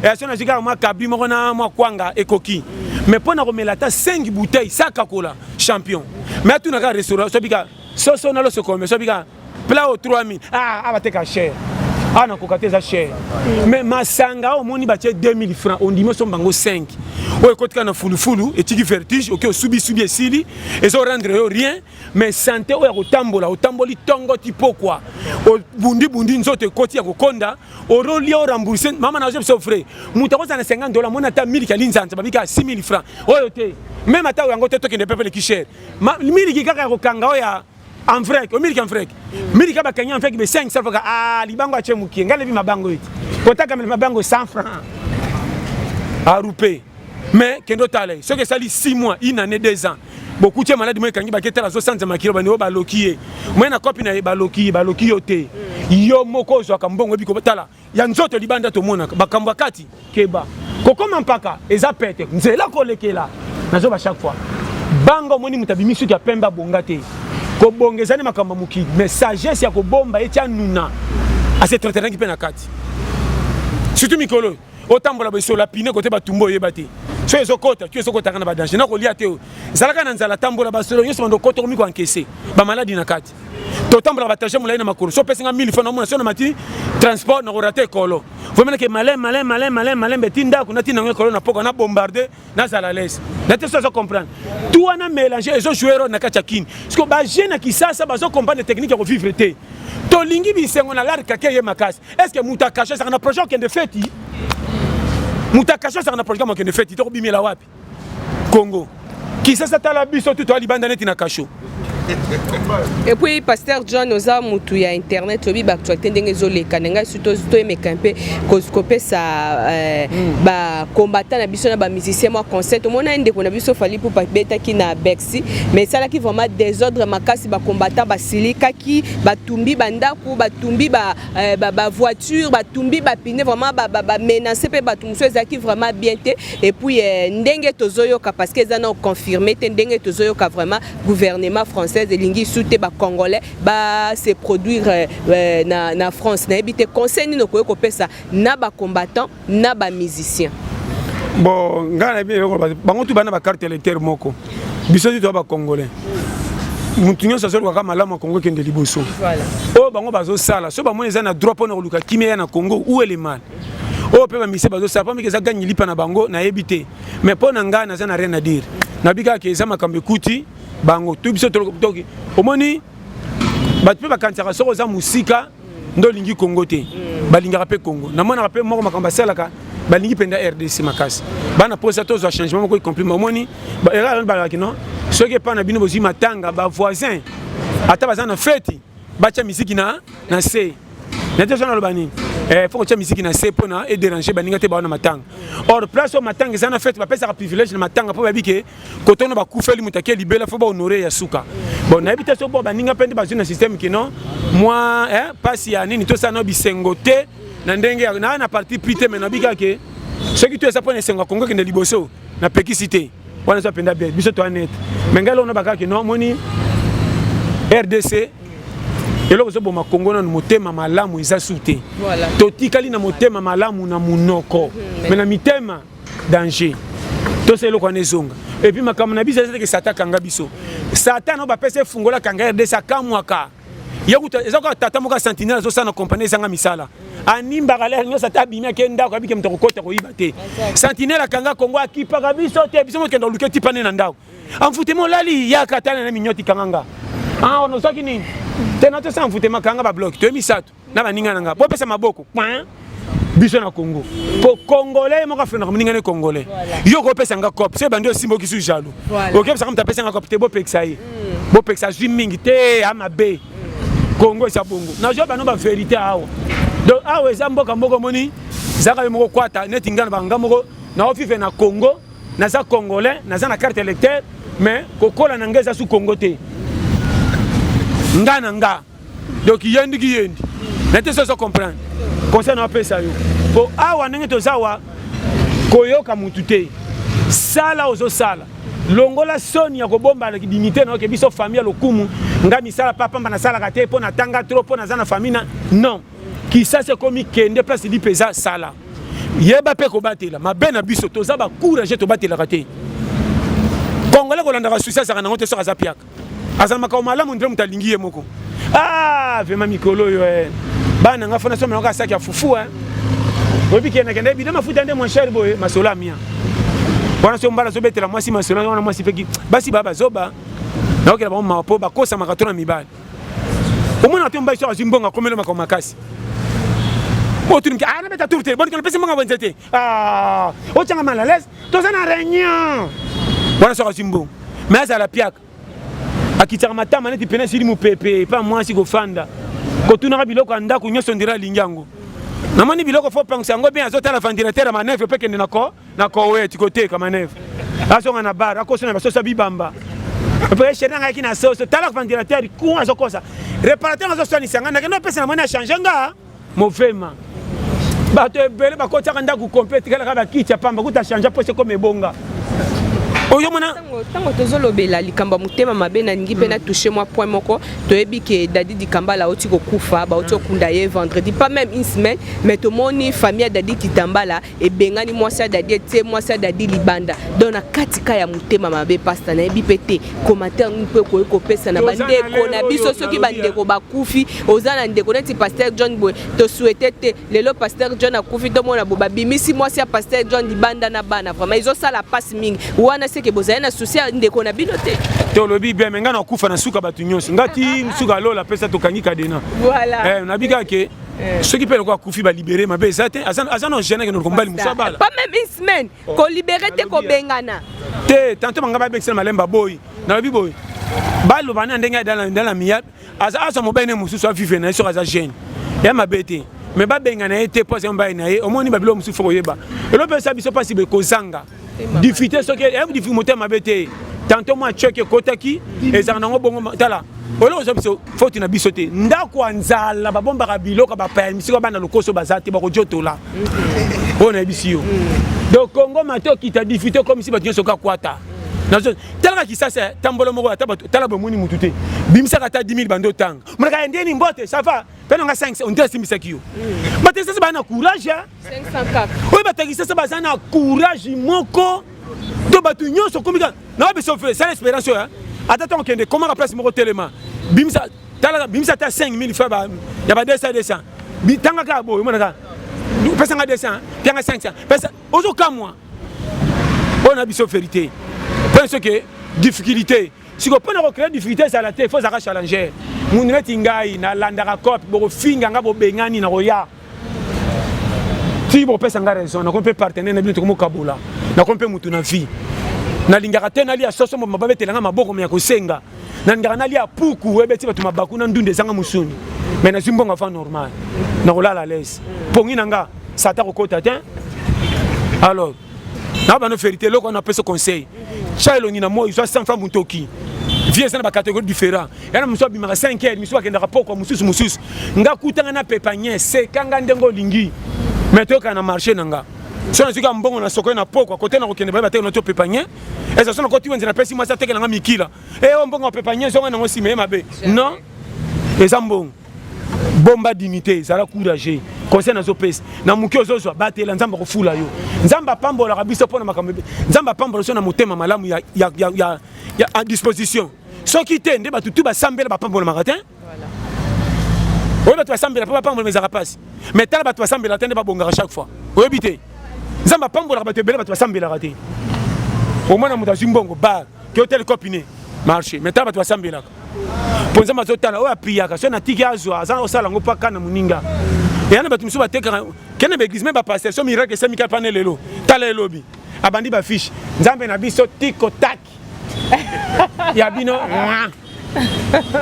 yaso nazwi kaka mwa kabri moko na mwa kwanga ekoki me mpo na komela ata 5 bouteille sakakola champion me atuna kaka restaurant sobika soso nalosokome sobika plat au 3000 ah ah bateka cher awa na koka te eza cher mais masanga awa omoni batie 2000 francs ondimi osomba yango 5 oyo ekotika na fulufulu etiki vertige oke osubisubi esili ezo rendre yo rien mais sante oyo ya kotambola otamboli tongo ti pokwa obundibundi nzoto ekoti ya kokonda orolia orembourse mama na biso frais moto akozala na 50 dola mona ata miliki ya linzanza babika 6000 francs oyo te meme ata yango te tokende pepe leki cher miliki kaka ya kokanga oyo ya en vrai o miliki en vrai miliki ba kenya en fait be 5 safa ka ah libango ache mukie ngale bi mabango iti kota kamel mabango 100 francs a rupe mais kendo tale ce que ça li 6 mois une année 2 ans beaucoup de malades moi kangi bakete la 60 makilo bani ba lokiye moi na copine na ba lokiye ba lokiyo te yo moko zo ka mbongo bi ko tala ya nzoto libanda tomonaka bakambo ya kati keba kokoma mpaka eza pete nzela kolekela nazoba chaque fois banga omoni moto abimi suki ya pembe abonga te kobonga ezali makambo ya mokili mais sagesse ya kobomba eti anuna asetretenaki mpe na kati surtout mikolo oyo otambola bosola pine kote batumba oyeba te so ezokota tu ezokotaka na badanger nakolia te oyo zalaka na nzala tambola basolo nyonso bando okota okomi koankese bamaladi na kati totambola batage molai na makolo so opesi nga 1000 franc namona so na mati transport nakorata ekolo vomenake malin malin malin malin malin beti ndako natina yango ekolo na poka na bombarde nazala lese na te so azo comprendre tu wana mélange ezo joue role na kati ya kini siko bajeune ya kisasa bazo comprendre technique ya kovivre te tolingi bisengo na lar kake ye makasi est ce que moto akashe ezaka na projet okende feti moto akashe ezaka na projet mokende feti tokobimela wapi Congo kisasa tala biso tu toa libanda neti na kasho et puis pasteur john oza mutu ya internet oyebi baactualité ndenge ezoleka na ngai surtout toyemeka mpe kopesa euh, hmm. bacombattant na biso na bamusicien mwa conseil tomona ye ndeko na biso fali pupa betaki na bexi mais esalaki vraiment désordre makasi bacombattant basilikaki batumbi bandako batumbi ba Eh, ba, ba voiture batumbi bapine vraiment bamenance ba, ba mpe bato mosusu ezalaki vraiment bien te epuis eh, ndenge tozoyoka parce que eza na confirme te ndenge tozoyoka vraiment gouvernement française elingi su te bacongolais base produire eh, na, na france nayebi te conseil nini okoki kopesa na bacombattant na ba musiciens bon ngai na bino koloba bango tu bana ba carte électeur moko biso tu toa ba congolais motu nyonso azolukaka malamu ya kongo ekende liboso oyo bango bazosala so bamoni eza na droit mpo na koluka kimia ya na kongo ou ele mal oyo mpe bamise bazosala mpo mike eza gangi lipa na bango nayebi te mais mpo na ngai naza na rien à dire nabi kaka ke eza makambo ekuti bango to biso toki omoni bato mpe bakanisaka soki oza mosika nde olingi congo te balingaka mpe congo namonaka mpe moko makambo asalaka balingi mpenza rdc makasi bana mposa tozwa changement moko ecomplima omoni erreur balaki no soki epai na bino bozwi matanga bavoisin ata baza na feti batya miziki na na se nete oza naloba nini eh, fo kotya miziki na se mpo na edérange baninga te bawana matanga or place oyo matanga eza na fete bapesaka privilège na matanga mpo bayebi ke koto na bakufeli moto ake libela fo bahonore ya suka bon nayebi te soko baninga mpe nde bazwi na systeme kino mwa eh, mpasi ya nini tosala na bisengo te na ndenge naa na parti pri te me nabi kaka ke soki to eza mpo na esengo ya kongo ekende liboso napekisi te wana eza mpenza bien biso toa nete me ngai lona bakaka kino omoni rdc eloko ezoboma kongo nanu motema malamu eza su te totikali na motema malamu na monoko me na mitema danger tosa eloko wana ezonga epuis makambo na biso eza teke sata akanga biso satan oyo bapesa efungola akanga rdc akamwaka eza kaka tata moko ya sentinelle azosala na kompani ezanga misala animbaka lere nyonso ata abimi ake ndako abike moto akokota koyiba te sentinelle akanga kongo akipaka biso te biso mokenda oluke tipa nde na ndako amfutema olali yaka tala na minyoti kanganga awa ah, nozwaki nini te natosala mfutema kanga babloki toye misato na baninga na ngai bopesa maboko point biso na congo po congolais moko afrenaka moninga ne congolais yo kopesa nga cop so ebandi osimba okisu jaloux okepesaka moto apesa nga cop te bopekisa ye mm. bopekisa azwi mingi te ya mabe congo eza bongo nazwa bano baverité awa donc awa eza mboka moko omoni zaka yo moko kwata neti ngai na banga moko naovive na congo naza congolais naza na carte électeur mais kokola na ngai eza su congo te nga na nga donc yendi ki yendi na te sozo comprendre conseil na apesa yo po awa ndenge toza wa koyoka mutu te sala ozosala longola soni ya kobomba dignité na yo ke biso famille ya lokumu nga misala pa pamba nasalaka te mpo natanga trop mpo naza na famille na non kisasi ekomi kende place lipe eza sala yeba mpe kobatela mabe na biso toza bacourage tobatelaka te congolais kolandaka susi azalaka nango te soki aza piaka azala makambo malamu ndire moto alingi ye moko ah vraimen mikolo oyo eh. bana na ngai fona so melaka asaki ya fufu eh. oyebi kendakenda bida mafuta nde mon cher boye masolo amia wana so mbala azobetela mwasi masolo wana mwasi peki basi baa bazoba naokela bango mawa mpo bakosamaka to na mibali omona te mobali so azwi mbongo akomeli makambo makasi otuniki anabeta tour te bonikana pesi mbongo bwenze te Ah, otyanga mal à l'aise toza na réunion wana soki azwi mbongo me azala piaka akitaka matama neti pene esili mopepe epa mwasi kofanda kotunaka biloko ya ndako nyonso ndira alingi yango namoni biloko fo pangisa yango bien azotala ventilateur ya manevre mpe kende na koweti koteka manevre azonga na bar akoso na basoso bibamba mpe sheri nangayaki na soso tala ventilateur kuna azokosa reparateur azoswanisa ngai nakende opesa namoni achange nga movema bato ebele bakotiaka ndako kompe etikalaka bakiti ya pamba kuta change mposa ekoma ebonga oyo mona ntango tozolobela likambo ya motema mabe nalingi mpe na touche mwa point moko toyebi ke dadi dikambala auti kokufa bauti okunda ye vendredi pas même une semaine mais tomoni famille ya dadi kitambala ebengani mwasi ya dadi etie mwasi ya dadi libanda donc na kati ka ya motema mabe pasta nayebi mpe te commentaire nini mpe okoki kopesa na bandeko na biso soki bandeko bakufi oza na ndeko neti paster john boye tosuete te lelo paster john akufi tomona bo babimisi mwasi ya paster john libanda na bana vraiment ezosala mpasi mingi wana seke bozali na susi ya ndeko na bino te tolobi bien me ngai nakufa na suka bato nyonso ngati suka lola apesa tokangi kadena voilà. eh, nabikake Eh. soki mpe lokola akufi balibere mabe eza te aza na gene akende lokombali mosu abala pas même une semaine oh. kolibere te kobengana te tanto banga babekisela malemba boyi nalobi boyi baloba na ndenge adala miyabe aza azwa mobali ne mosusu avive na ye soki aza gene ya mabe te me babengana ye te mpo aza mobali na ye omoni babilo mosusu fo koyeba elopesa biso mpasi bekozanga difficulté soki eh, eyebi difficulté motema mabe te tanto mwa choc ekotaki ezalaka nango bongo tala oloko oza biso foti na biso te ndako ya nzala babombaka biloko bapaya misiko bana lokoso baza te bakojotola mhm. oyo nayebisi yo mhm. donc kongo mate okita difficulté okomisi bato nyonso kaka kwata talaka kisasa eh, tambola moko ata bato tala bomoni motu te bimisaka ata 10 000 bando otanga monaka ndeni mbote sava mpe nanga 5 onte asimbisaki yo mhm. bato esasi baa na courage eh. oyo batakisasa baza na courage moko to bato nyonso okomi kaka na biso fre sala espérance oyo ata ntango okende komaka place moko telema bimisa tala bimisa ata 5000 fa ya ba 200 200 bitanga kaka boye omona kaka pesa nga 200 pianga 500 pesa ozokamwa oyo na biso verité mpona soki difficulté sikoyo mpona kocree difficulté ezala te fo ozalaka challenger mundu neti ngai nalandaka cope bokofinga nga bobengani na koya soki bopesa nga raison nakomi mpe partenaire na bino tokomokabola nakomi mpe motu na vie nalingaka te nalia soso moto mababetela nga maboko me ya kosenga nalingaka nalia puku ebeti bato mabaku na ndunda ezanga mosuni me nazwi mbongo avant normal nakolala lese pongi na nga sata kokota te alors na bano verité eloko wana apesa conseil tya elongi na moi zwa sanfa motoki vie eza na bacatégorie différent yana mosusu abimaka 5 heures mosusu akendaka pokwa mosusu mosusu nga kutanga na pepanie seka nga ndenge olingi me toyokana na marché na nga so nazwiki ya mbongo na soko na pokwa kote na kokende bayeba te na to pepanie eza so nakoti wenze napesi mwasi atekela nga mikila e eh, o oh, mbongo ya pepanie zonga nango nsima ye mabe non eza mbongo bomba dignité zala courage conseil nazopesa na moke ozozwa batela nzambe akofula yo nzambe apambolaka biso mpo na makambo nzambe apambola biso na motema malamu ya, ya, ya, ya, ya, ya disposition soki te nde bato tu basambela bapambolamaka te oyo bato basambela mpo bapambola ezaka mpasi mais tala bato basambela te nde babongaka chaque fois oyebi te nzambe apambolaka bato ebele bato basambelaka te omona moto azwi mbongo bar ke otele copine marché mais tala bato basambelaka mpo nzambe azotala oyo apiyaka soki natiki azwa aza na kosala yango mpo aka na moninga eya na bato mosusu batekaka kende baeglise me bapaster so miracle esamika mpane lelo tala elobi abandi bafiche nzambe na biso tiko tak ya bino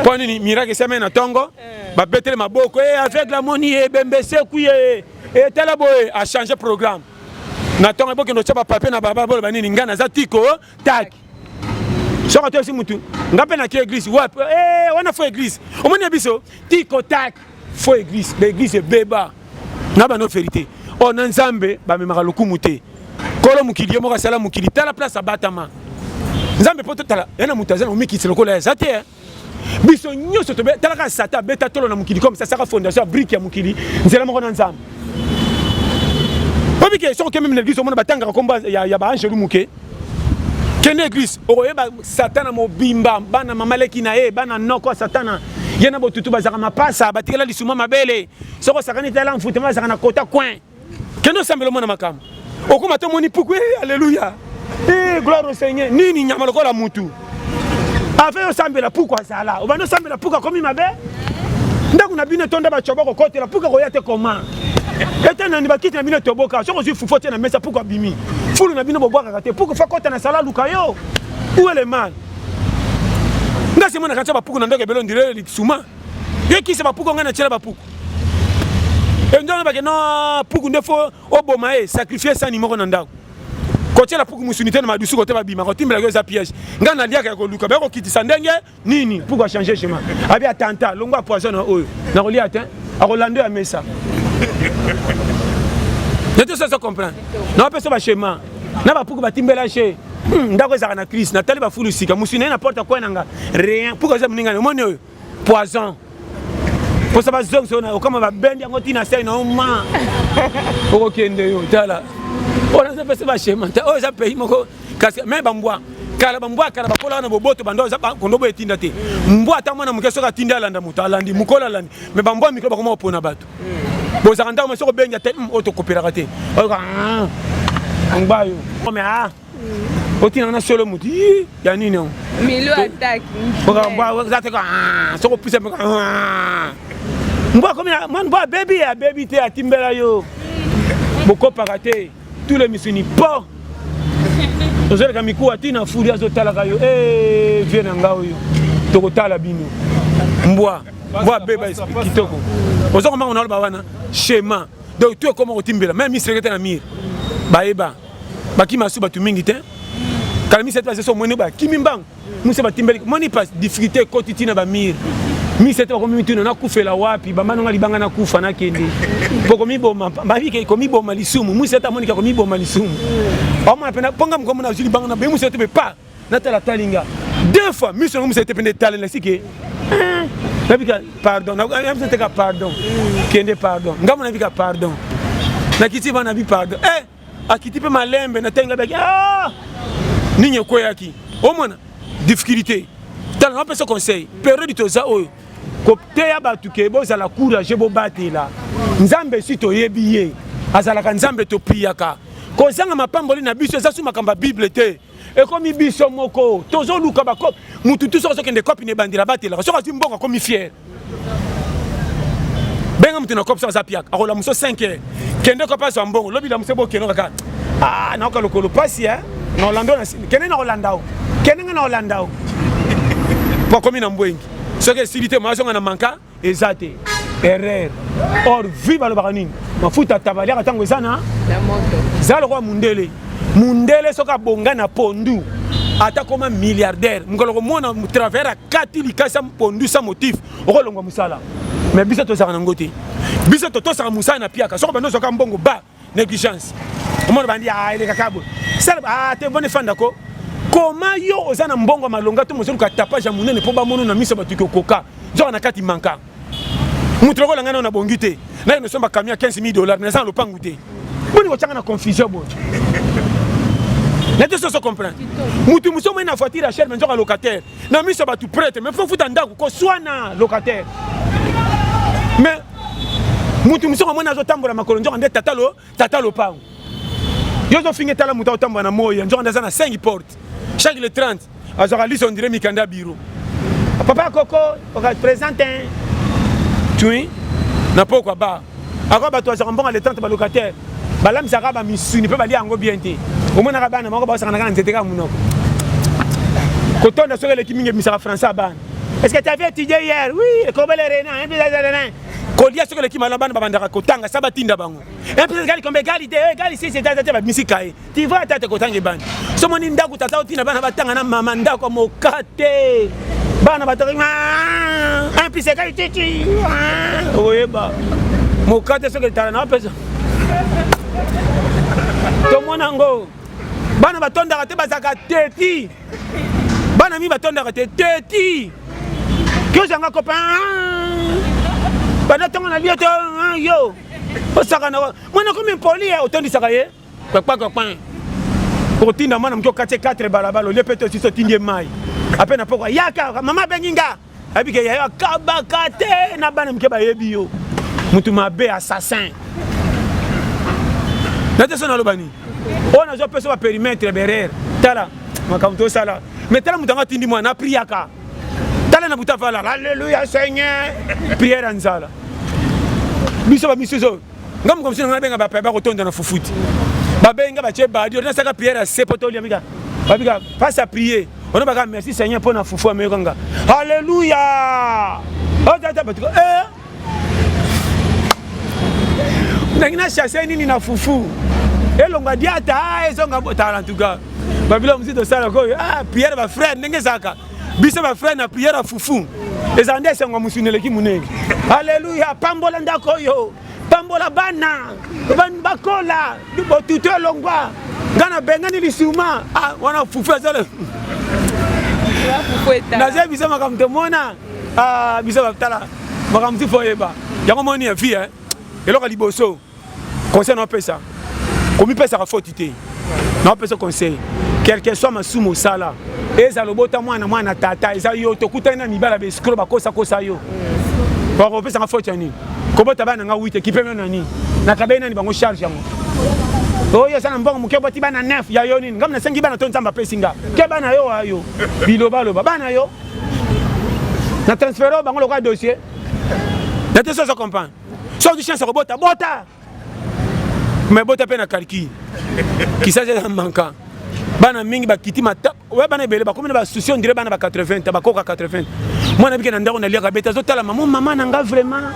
mpo nini miraki esamai na ntongo eh. babetele maboko e avec la moni ye ebembe esekwi ye etala boye achange programme na ntongo ebokende otya bapapie na baba boloba nini ngai naza tiko taki soki atoyesi motu ngai mpe nake eglise wapi eh, wana fo eglise omoni ya biso tiko taki fo eglise ba eglise ebeba na bano verite oyo oh, na nzambe bamemaka lokumu te kolo mokili ye moko asala mokili tala place abatama nzambe mpo totala ya na moto aza na komikitisa lokola eza te eh. biso nyonso talaka satan abeta tolo na mokili comme sasaka fondation ya brike ya mokili nzela moko na nzambe obike soki okememi na eglise omona batangaka nkombo ya baangelu moke kende eglise okoyeba satana mobimba bana mama leki na ye bana noko ya satana ye na botutu bazalaka mapasa batikela lisuma mabele soki osakani tala mfutema bazalaka na kota coin kende osambela omona makambo okoma to omoni puku e eh, aleluya e eh, gloire au seigneur nini nyama lokola mutu ave osambela puku azala obandi osambela puku akomi mabe ndako na bino etonda bato yaba kokotela puku akoya te koma ete nani bakiti na bino etoboka soki ozwi fufu te na mesa puku abimi fulu na bino bobwakaka te puku fa kota na sala aluka yo uele mal nga se monaka tya bapuku na ndako ebele ondire lisuma yekisa bapuku ngai natyela bapuku enzo na bake no puku nde fo oboma ye sacrifie sani moko na ndako kotyela puku mosuni te na madusu kote babima kotimbela yo eza piège ngai naliaka ya koluka baya kokitisa ndenge nini puku achange chemin abi atanta longwa poison na oyo nakolia te akolando ya mesa nete oso azo comprendre naopesa bachema na bapuku batimbela che hmm, ndako ezalaka na crise natali bafulu sika mosuni naye na porte akwai na nga rien puku aza moninga omoni oyo poison posa bazongisa yo na okama babendi yango ntina sai na yo ma okokende yo tala oyo naza pesa bashema te oyo eza pays moko kasi me bambwa kala bambwa ya kala bakola wana boboto banda oza kondo boye etinda te mbwa ata mwana moke soki atindi alanda moto alandi mokolo alandi me bambwa ya mikolo bakoma kopona bato bozalaka ntango ma soki obengi ate hmm, oyo tokopelaka te oyoka ah, ngbayo otinanga na solo moto i ya nini yango milio ataki ah, soko pisa mpe ah. mbo akomi mwana mbo abebi abebi te atimbela yo bokopaka te tous les misuni po ozoleka mikuwa ti na fuli azotalaka yo e vie na nga oyo tokotala bino mbwa mbwa abeba esprit kitoko ozokombango naloba wana shema donc to ekoma kotimbela meme misekete na mire bayeba bakima su bato mingi te kala misete base so omoni bakimi mbango musa batimbeli moni pa difficulté ekoti ntina bamire misete bakomi mituna nakufela wapi bambano nga libanga nakufa nakende mpo komiboma babike komiboma lisumu musete amonike komiboma lisumu omona mpe mponga mokomo nazwi libanga na be musete mpe pa natala tali nga deux fois miso yango misete pende etale na sike nabika pardon nabiseteka pardon kende pardon ngambo nabika pardon nakiti bana bi pardon eh akiti mpe malembe natangi ngai baki ah! nini ekweyaki omona difficulté tala napesa conseil periode toza oyo koteya bato ke bozala courage bobatela nzambe esi toyebi ye azalaka nzambe topriyaka kozanga mapamboli na biso eza su makambo ya bible te ekomi biso moko tozoluka bakope mutu tu soki azokende kopi na ebandela batelaka soki azwi mbongo akomi fiere benga moto na kopi soki aza piaka akolamuso 5 heure kende kopi azwa mbongo lobi lamuso bokeno kaka ah, naoka lokolo mpasi eh? na olanda o kende na olanda o kende nga na olanda o po akomi na mbwengi soki esili te moazonga na manka eza te erreur or vie balobaka nini mafuta tabaliaka ntango eza na eza lokola mundele mundele soki abonga na pondu ata koma milliardaire mokolo komona travailleur akati likasa pondu sa motif okolongwa mosala mais biso tozalaka nango te biso totosaka mosala na piaka soko bando ozwaka mbongo ba négligence omona bandi ah, elekaka boye sala ah, te boni fanda ko koma yo oza na mbongo ya malonga to mozoluka tapage ya monene mpo bamono na miso bato kokoka zoka na kati manka moto lokola ngai nao nabongi te naye nosomba camion ya 15 000 dollars naza na lopangu te boni kotyanga na confusion boye na te soso comprendre motu mosu omoi na voiture ya cher me nzoka locataire na miso ya bato prete mais fo futa ndako koswana locataire mais motu mosusu amoni azotambola makolo nzoka nde tata lo tata lopango yo ozofinga etala moto aotambola na moya nzoka nde aza na 5 porte chaque le 30 azwaka liso ondire mikanda biro papa koko okapresente tui na pokwa ba Ako bato ya Zambonga le 30 ba locataire balambisaka ba misuni mpe balia yango bien te. Omonaka bana moko baosakanaka na nzete kaka monoko. Kotonda soki eleki mingi ebimisaka français ya bana. Est-ce que tu avais étudié hier? Oui, ekobele rena, hein, bizarre rena. Kolia soki eleki malona bana babandaka kotanga sa batinda bango. Hein, bizarre gali kombe gali te, gali si c'est ta ta ba misika ye. Tu vois tata kotanga ebandi. So moni ndako tata otina bana batanga na mama ndako mokate. Bana batanga ah, un pise kai titi. Ah, oyeba. Mokate soki tala na pesa. Tomona ngo. Bana batondaka te bazaka teti. Bana mi batondaka te teti. Kyo zanga copain. Ah. Bana tonga na bioto ah, yo. Osaka na mwana komi mpoli eh, otondisaka ye. kwekwekwekwe okotinda mwana moke okati 4 balabala olie mpe tosisi otindi ye mai ape na pokwa yaka mama abengi nga ayebi ke yayo akabaka te na bana moke bayebi yo motu mabe assassin na te so naloba nini oyo nazwa mpe so baperimetre berere tala makambo tosala me tala moto yango atindi mwana apriaka tala na buta valala alleluya seigneur priere ya nzala biso bamisusu nga mokomisi nanga abenga bapaya bakotonda na fufuti babenga batye badio nasaka priere ya se mpo tolia mika babika face à prier ono baka merci seigneur mpo na fufu ameyoka nga halleluya otata batuka eh? nangi na chasse nini na fufu elonga diata ah, ezonga botala en tout cas babilo mosusu tosala koyo ah priere bafrere ndenge ezalaka biso ba frère na prière ya fufu ezala nde esengo ya mosuni eleki monene aleluya pambola ndako oyo pambola bana bakola botutu elongwa ngai nabengani lisuma ah, wana fufu ezale naza biso makambo tomona ah, biso batala makambo ti fo oyeba yango moni ya vie eloko liboso conseil naopesa komipesaka foti te naopesa conseil quelque soit masumu osala eza lobota mwana mwana tata eza yo tokutani na mibala baescro bakosakosa yo bakopesaka foti ya nini kobota bana nga wite kipemio na nini nakabei nani bango charge yango oyo eza na mbongo moke oboti bana 9 ya yo nini ngai nasengi bana to nzambe apesi nga ke bana yo ayo bilobaloba bana yo na transfere bango lokola dossier na te sozo comprendre soki ozwi chance ya kobota bota me bota mpe na kalki kisasi eza manka bana mingi bakiti mata oya bana ebele bakomi na basusi ondire bana ba 80 bakoka 80 mwana abike na ndako naliaka bete azotala mamo mama na nga vraiment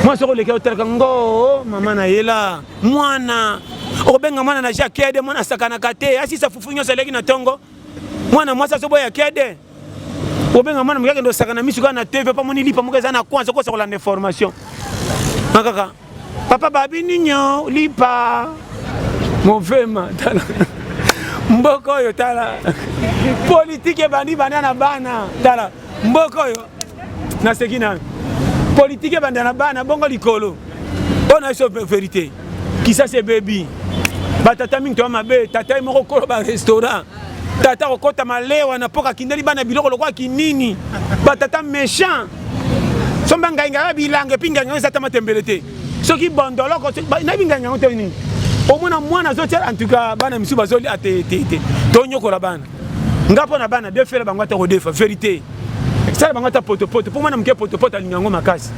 mwa soki oleki otalaka ngo oh, mama na yela mwana okobenga mwana na jakede mwana asakanaka te asisa fufu nyonso aleki na ntongo mwana mwasi azoboya kede obenga mwana moke akende osaka na misu kaka na tv mpo amoni lipa moko eza na coin azokosa kolanda information na kaka papa babi ninyo lipa movema tala mboka oyo tala politike ebandi banda na bana tala mboka oyo naseki nayo politike ebanda na bana bongo likolo oyo na biso verité kisasi ebebi batata mingi toya mabe tata ye moko kolo barestaurant tata kokota malewa na mpoka kindeli bana biloko lokola kinini batata méchant somba ngai ngai ya bilanga epi ngai ngai eza ta matembele te soki bondoloko nayebi ngai ngai te nini omona mwana azotia en tout cas bana misusu bazoli ate ah, te te tonyokola bana nga mpo na bana defela bango ata kodefa verité sala bango ata potopoto mpo mwana moke potopoto alinga yango makasi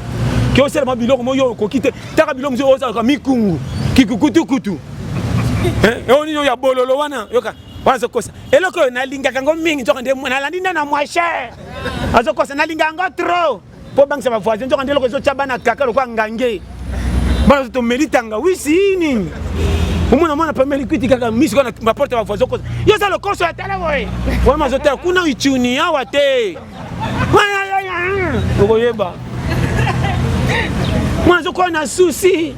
ke osala mwa biloko moyo okoki te taka bilo mosusu ozalaka mikungu kikukutukutu eyo nini oyo ya bololo wana yoka wana azokosa eloko oyo nalingaka yango mingi nzoka nde nalandi nde na mwashe azokosa nalingaka yango trop mpo obangisa bavoisin nzoka nde eloko ezotya bana kaka lokola ngange bana ozo tomeli tangawisi nini omona mwana pameli kwiti kaka miso kaka na baporte ya bavoisin okosa yo oza lokoso ya tala boye wana mazotala kuna ichuni awa te okoyeba mwana zokoya na susi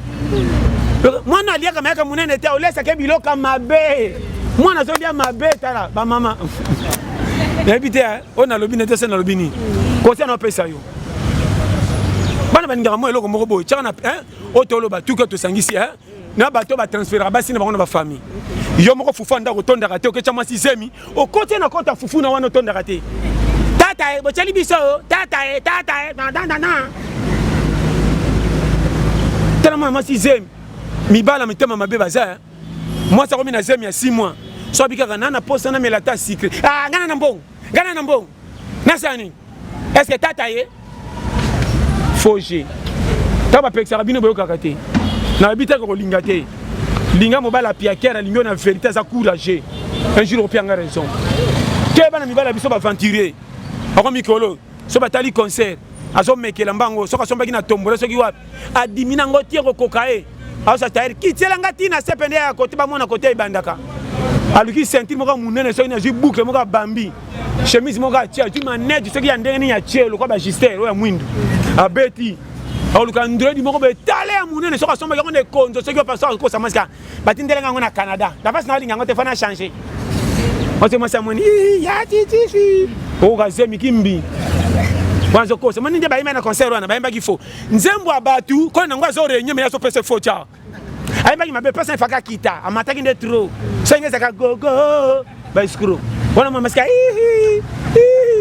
mwana aliaka mayaka monene te olesake biloka mabe mwana azolia mabe tala bamama nayebi te eh, oyo nalobi nete se nalobi nini kosia naopesa yo bana balingaka mwa eloko moko boye tiaka na eh, oyo toloba tuke tosangisi eh. na bato batransferaka basi na bango na bafamille yo moko fufu andako otondaka te oketya mwasi zemi okoti na kota fufu na wana otondaka te tata e botyali biso tata e tata e dadadana tala mwana mwasi zemi mibala mitema mabe baza eh. mwasi akomi na zemi ya 6 mois so abikaka na na posa namela ata sikre ah, ngana na mbongo Gana na mbongo. Nasala nini? Est-ce que tata ye? Faux jeu. Tata bapekisaka bino boyokaka te. Na babi te kolinga te. Linga mobali apiakere alingi yo na verite aza courageux. Un jour opianga raison. Te bana mibali ya biso baventurier. Bako mikolo so batali concert azomekela mbango soki asombaki na tombola soki wapi adimi na ngo tie kokoka ye aosa taire kitiela nga ti na sepe nde ya kote bamona kote ebandaka aluki ceinture moko monene soki nazwi boucle moko abambi chemise moko atie azwi maneti soki ya ndenge nini atie lokola bagister oyo ya mwindu abeti aoluka ndredi moko betale ya monene soki asombaki yango na ekonzo soki opasa okosa mwasi ka batindelanga yango na canada na mpasi naolinga yango te fana change ote mwasi amoni ya titifi okoka zemi kimbi bazokosa moni nde bayemba na concert wana bayembaki fo nzembo ya bato kolo nango azo renye me azo pesa fo ca ayembaki mabe pesa efaka kita amataki nde tro senge ezaka gogo baescro wana mamasika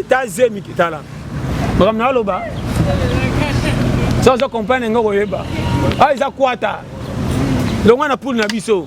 ta zemi tala makambo na aloba so ozo comprendre yango koyeba awa ah, eza kwata longwa na poule na biso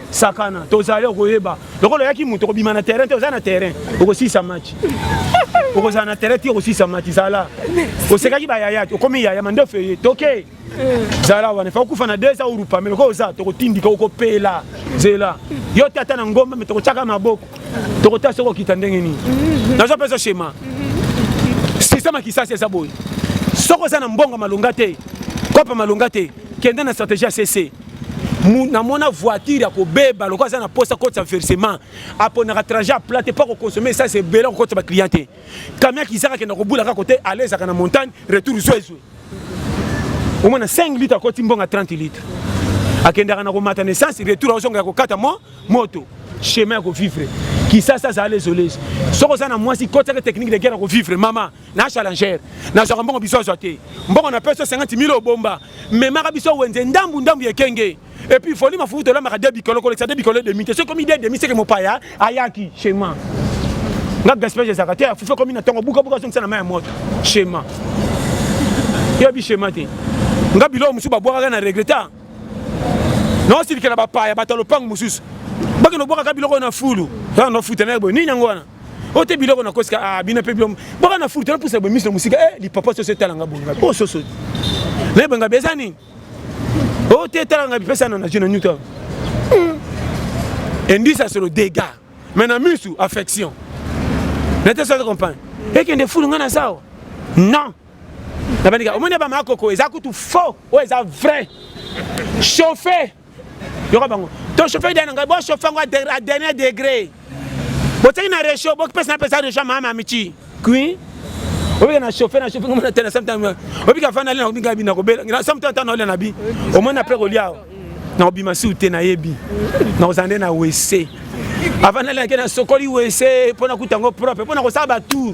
sakana tozali okoyeba lokola oyaki moto okobima na terrain te oza na terrain okosisa match okozala na terrain te okosisa match zala osekaki bayaya te okomi yaya mandefu eye toke zala wana fa okufa na deux ans orupa melo ko oza tokotindika okopela zela yo te ata na ngomba me tokotyaka maboko tokotya soki okita ndenge nini nazo mpe ezoshema systeme ya kisasi eza boye soki oza na mbongo malonga te kopa malonga te kende na stratégie ya cc namona voiture ya kobeba lokola aza na mposa akotisa versement aponaka trajet ya plate mpo akokonsome esasi ebele akokotisa baclient te kamia kizaka akenda kobula kaka kote alezaka na montagne retour zwezwe omona 5 litre akoti mbonga 30 litre akendaka na komata na essence retour aozonga ya kokata mo moto chemin ya kovivre kisasa azala lesolesi soki oza na mwasi kotiaka technique de guerre ya kovivre mama na challenger nazwaka mbongo biso azwa te mbongo na peso 50 mille obomba memaka biso wenze ndambu ndambu ekenge epuis foli mafufu tolamaka de bikolo kolekisa de bikolo demi te soki komi de demi seke mopaya ayaki chema nga gaspillage ezalaka te afufu ekomi na ntongo bukabuka azongisa na mai ya moto chema yoyebi chema te nga biloko mosusu babwakaka na regreta naosilikela bapaya bato ya lopango mosusu bakende kobwakaka biloko na fulu aa nofutana boye nini yango wana oyo te biloko na kosika ah, bino mpe biloko boka na furutana pusa boye miso na mosika e eh, lipapa soso etala nga boye ngabi oyo oh, soso nayeba ngabi eza nini oyo oh, te etala ngabi pesa na najo na nyuta hmm. endisa solo dégât mais na misu affection nete soki comprendre ekende fulu nga na zawa non nabandika omoni ya bamakoko eza kutu faux oyo eza vrai chauffe yoka bango to chauffer dana ngai bo chauffer ngo à dernier degré boteki na réchaud bokipesa na pesa réchaud mama michi kui obika na chauffer na chauffer ngomona tena samtana obika fana lena obika bina kobela na samtana tana ole na bi omona après kolia na obima si ute na yebi na ozande na wese avant na lena kena sokoli wese pona kutango propre pona kosala ba tour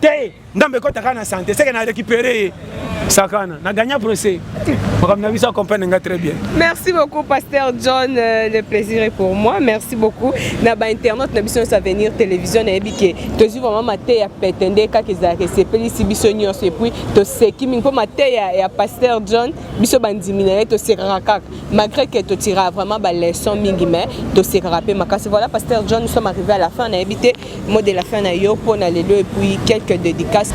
te ndambe ekota kaka na sante seke na récupéré ye sakana na gagna procès makambo na biso acomprendre nga très bien merci beaucoup pasteur john euh, le plaisir est pour moi merci beaucoup na bainternaute na biso nyonso avenir télévision nayebi ke tozwi vraiment mateya pete nde kaka ezalaka esepelisi biso nyonso epuis toseki mingi mpo mateya ya pasteur john biso bandimi na ye tosekaka kaka malgré ke totiraka vraiment baleçon mingi mais tosekaka mpe makasi voilà pasteur john nous sommes arrivé à la fin nayebi te Mot de la fin na yo mpo na lelo et puis quelques dédicaces.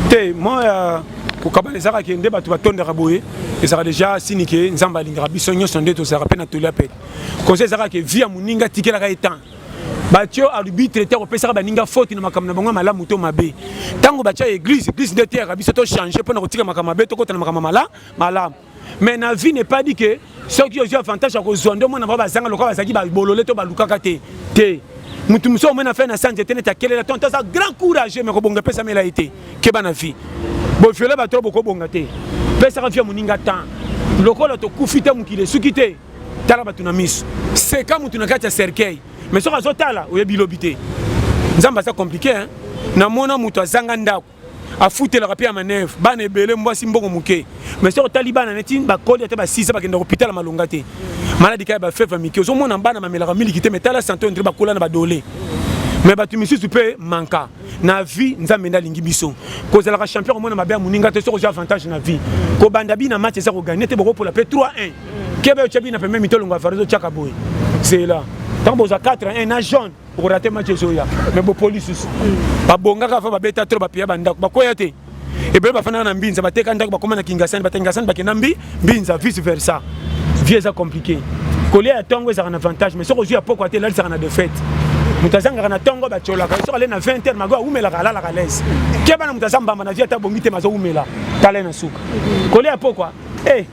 Te moi euh, kokabana ezalaka ke nde bato batondaka boye ezalaka deja sini ke nzambe alingaka biso nyonso nde tozalaka mpe na toli ya pete koza ezalaka ke vie ya moninga atikelaka ye temps batyo arbitre te akopesaka baninga foti na makambo na bango ya malamu to mabe ntango batya eglise eglise nde eteyaka biso to change mpo na kotika makambo mabe tokota na makambo mala malamu mais na vie n'est pas dit que soki ozwi avantage ya kozwa nde omona bango bazanga lokola bazalaki babolole to balukaka te te motu mosusu omona fai na sanje te neti akelela to nto aza grand courage me kobonga epesamela ye te keba na vie boviole bato bokobonga te pesaka vie ya moninga temps lokola tokufi te mokili esuki te tala bato na miso seka motu na kati ya cercueil mais soki azotala oyebi lobi te nzambe aza komplike namona moto azanga ndako afutelaka mpe ya maneve bana ebele mwasi mbongo moke mais soki otali bana neti bakoli ata basisa bakenda kopitala malonga te maladi kaka ya bafeve ya mike ozomona bana bamelaka miliki te mais tala sante ondire bakola na badole mais bato misusu mpe manka na vie nzambe nde alingi biso kozalaka champion komona mabe ya moninga te soki ozwi avantage na vie kobanda bina match eza koganye te bokopola mpe 3 1 kebe otya bina pembe mitolongo ya farizo otyaka boye zela ntango bozwa 4 1 na jaune okorate match ezoya me bopoli susu hmm. babongaka fa babeta tro bapiya bandako bakwea te ebele bafandaka na mbinza bateka ndako bakoma na kingasani bata kingasani bakenda mbi mbinza vice versa vie eza compliqué kolia ya ntongo ezalaka na avantage mais soki ozwi ya pokwa te elalisaka na defaite moto azangaka na ntongo batyolaka soki ale na 20 heure mago awumelaka alalaka lese keba na moto aza mbamba na vie ata bongi te mazowumela tala ye na suka kolia ya pokwa e eh,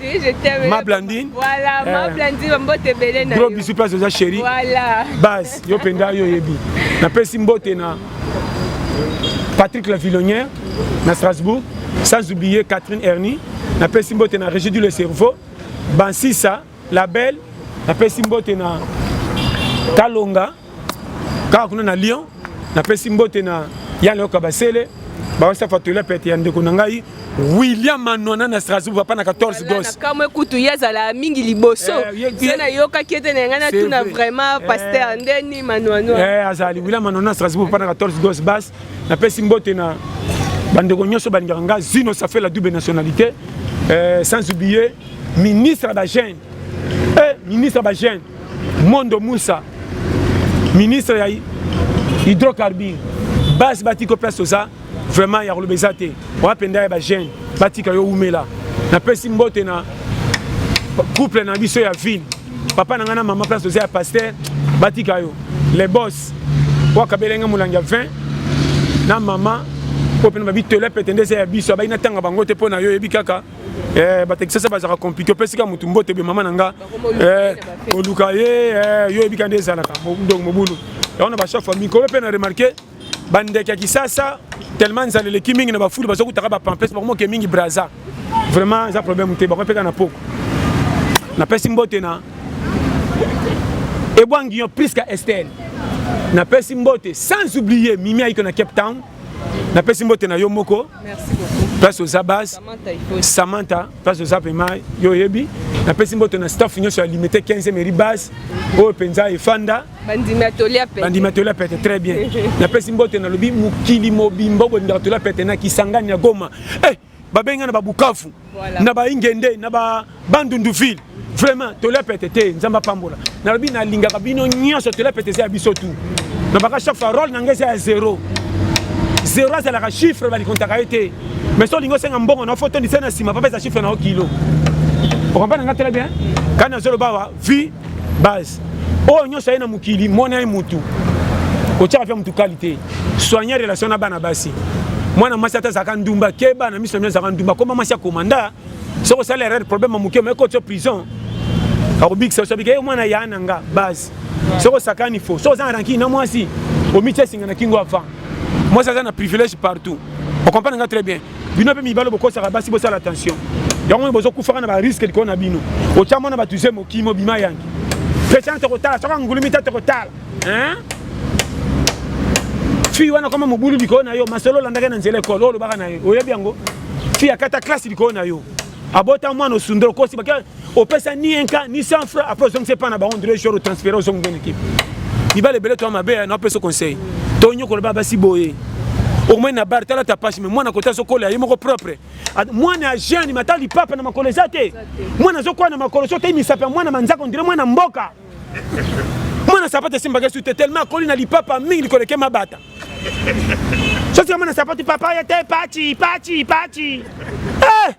Oui, je t'aime. Ma Blandine. Voilà, eh. ma Blandine, ma mbote belé na. Gros bisous place oza chérie. Voilà. Base, yo penda yo yebi. Na pesi mbote na Patrick Lavillonnière na Strasbourg, sans oublier Catherine Ernie, na pesi mbote na Régie du le cerveau, Bansisa, la belle, na pesi mbote na Kalonga kaka kuna na lyon napesi mbote na ya leoka basele bawasa fatoila pete ya ndeko na ngai william manwana na strasbourg papa na 14 goskamwe kutu ye azalaka mingi liboso eh, se nayokaki ete na ngai natuna vraiment eh. paster ndeni manwana eh, azali william manwana na strasbourg papa na 14 gos bas napesi mbote na bandeko nyonso balingaka ngai zino ça fait la double nationalité sans oublier ministre ya bagene ministre ya bagene Mondo Musa, ministre ya hydrocarbure, base batiko place toza vraiment ya koloba eza te oya mpenza ya bagene batika yo umela napesi mbote na couple na biso ya ville papa na ngai na mama place toza ya paster batika yo le bos wakabela ngai molangi ya 20 na mama mpo mpe na babitelo ya pete nde eza ya biso abai natanga bango te mpo na yo oyebi kaka Eh, batekisasa bazalaka compliqué opesika motu mbote ebe mama na nga eh, oluka ye eh, yo oyebika nde ezalaka donc mobulu yango na bachef ya mikolo mpe na remarke bandeke ya kisasa tellement nzala eleki mingi na bafulu baza kutaka bapampes bakomoke mingi braza vraiment eza problème te bakomi mpeka na poko napesi mbote na ebwangi yo priska estele napesi mbote sans oublier mimi ayiko na cape town napesi mbote na yo moko place oza base samantha place oza pema yo oyebi napesi mboto na staff nyonso ya limite 15 meri base oyo mpenza efanda bandimi atoli ya pete très bien napesi mboto nalobi mokili mobimba obondaka toli ya pete na kisangani ya goma eh, babengi na babukafu na ba ingende na ba bandundu ville vraiment tolia pete te nzambe apambola nalobi nalingaka bino nyonso tolia pete eza ya biso tu na baka chaque fois role na ngai eza ya zero zero azalaka chiffre balikontaka ye te mais so olingi osenga mbongo na foto ndisa na nsima papa eza chiffre na yo kilo okompa na ngai tela bien kani nazoloba wa vie base oyo nyonso aye na mokili mwana ye mutu otyaka mpe motu kali te soigne relation na bana basi mwana mwasi ata azalaka ndumba keba na miso na mino azalaka ndumba koma mwasi ya komanda soki osala erreur problème ya moke omeki otyo prison akobikisa oso abika ye mwana ya na nga base soki osakani fo soki oza na rankini na mwasi omitya esinga na kingo avant mwasi aza na privilège partout okomprane nga très bien bino mpe mibali bokosaka basi bosala attention yango oyo bozokufaka na bariske likolo na bino otya mwana bato ze mokimi obima yangi pesa te kotala soki angulumi te te kotala fii wana koma mobulu likolo na yo masolo olandaki na nzela ekolo oyo olobaka na ye oyebi yango fii akata klase likolo na yo abota mwana osundolo kosi bake opesa ni enka ni sans frais après ozongisa epai na bango ndelo jour otransfere ozongi bene ekipe mibale ebele to mabe ya napesa conseil to nyokola ba basi boye omoi na bar tala tapashe me mwana kota azokola ye moko propre mwana ya jeune mata lipapa na makolo eza te mwana azokola na makolo so te misapi ya mwana manzaka ondire mwana mboka mwana sapate esimbaka su te tellement akoli na lipapa mingi likoleke mabata sosi ya mwana sapate papa ya te pachi pachi pachi eh!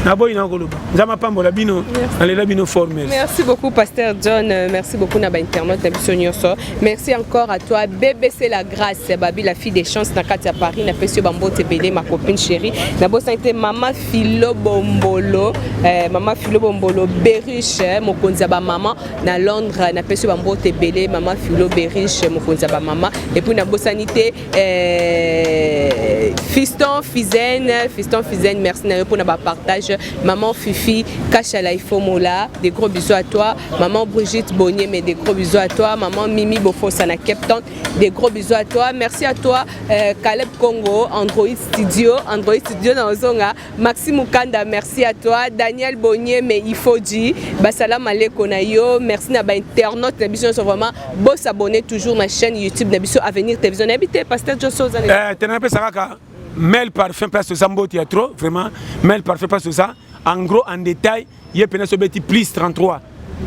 naboyi na koloba nzambe apambola bino nalela bino formel merci beaucoup pasteur john euh, merci beaucoup na bainternaute na biso nyonso merci encore à toi bbc la grâce babi la fille des chances na kati ya paris napesi yo bambote ebele ma copine chérie nabosani te mama filo bombolo eh, mama filo bombolo beriche eh, mokonzi ya bamama na londres napesi yo bambote ebele mama filo beriche mokonzi ya bamama epuis nabosani te Eh, fiston fizen fiston fizen merci na yo mpona bapartage maman fifi kashala ifomola de gros bisous à toi maman brigitte bonieme de gros bisous à toi maman mimi bofosa na cape town de gros bisous à toi merci à toi euh, caleb congo android studio android studio na ozonga Maxi Mukanda, merci à toi. Daniel Bonnier, mais il faut dire, Basala Maleko na yo, merci na ba internautes na biso, vraiment, beau s'abonner toujours ma chaîne YouTube na biso Avenir Télévision. Habité Pasteur John Souza. Eh, t'en as pas ça kaka. Mel parfum place aux ambos il y a trop, vraiment. Mel parfum place aux ça. En gros, en détail, il y a peine sobeti plus 33,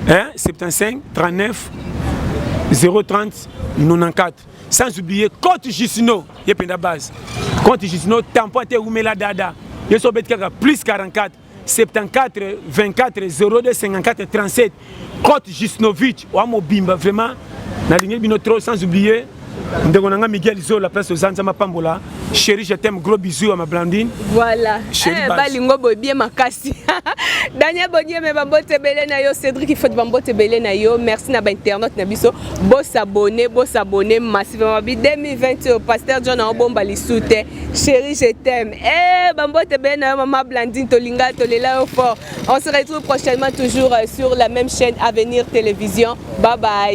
hein, 75, 39, 030, 94. sans oublier cote jusino ye mpenza base cote jusino tampo ate ewumela dada ye so obeti kaka plus 44 74 24 02 54 37 cote jusnovic oa mobimba vraiment nalingi bino trop sans oublier ndeko na ngai miguel zola place oza nzambe apambola Chérie, je t'aime. Gros bisous à ma Blandine. Voilà. Chérie, eh, balingo boy bien makasi. Daniel Bonier mais bambote belé na yo, Cédric il faut bambote belé na yo. Merci na ba internet na biso. Bo s'abonner, bo s'abonner massivement. Bi 2020 au pasteur John en bomba li soute. Chérie, je t'aime. Eh bambote belé na yo maman Blandine Tolinga Tolela yo fort. On se retrouve prochainement toujours euh, sur la même chaîne Avenir Télévision. Bye bye.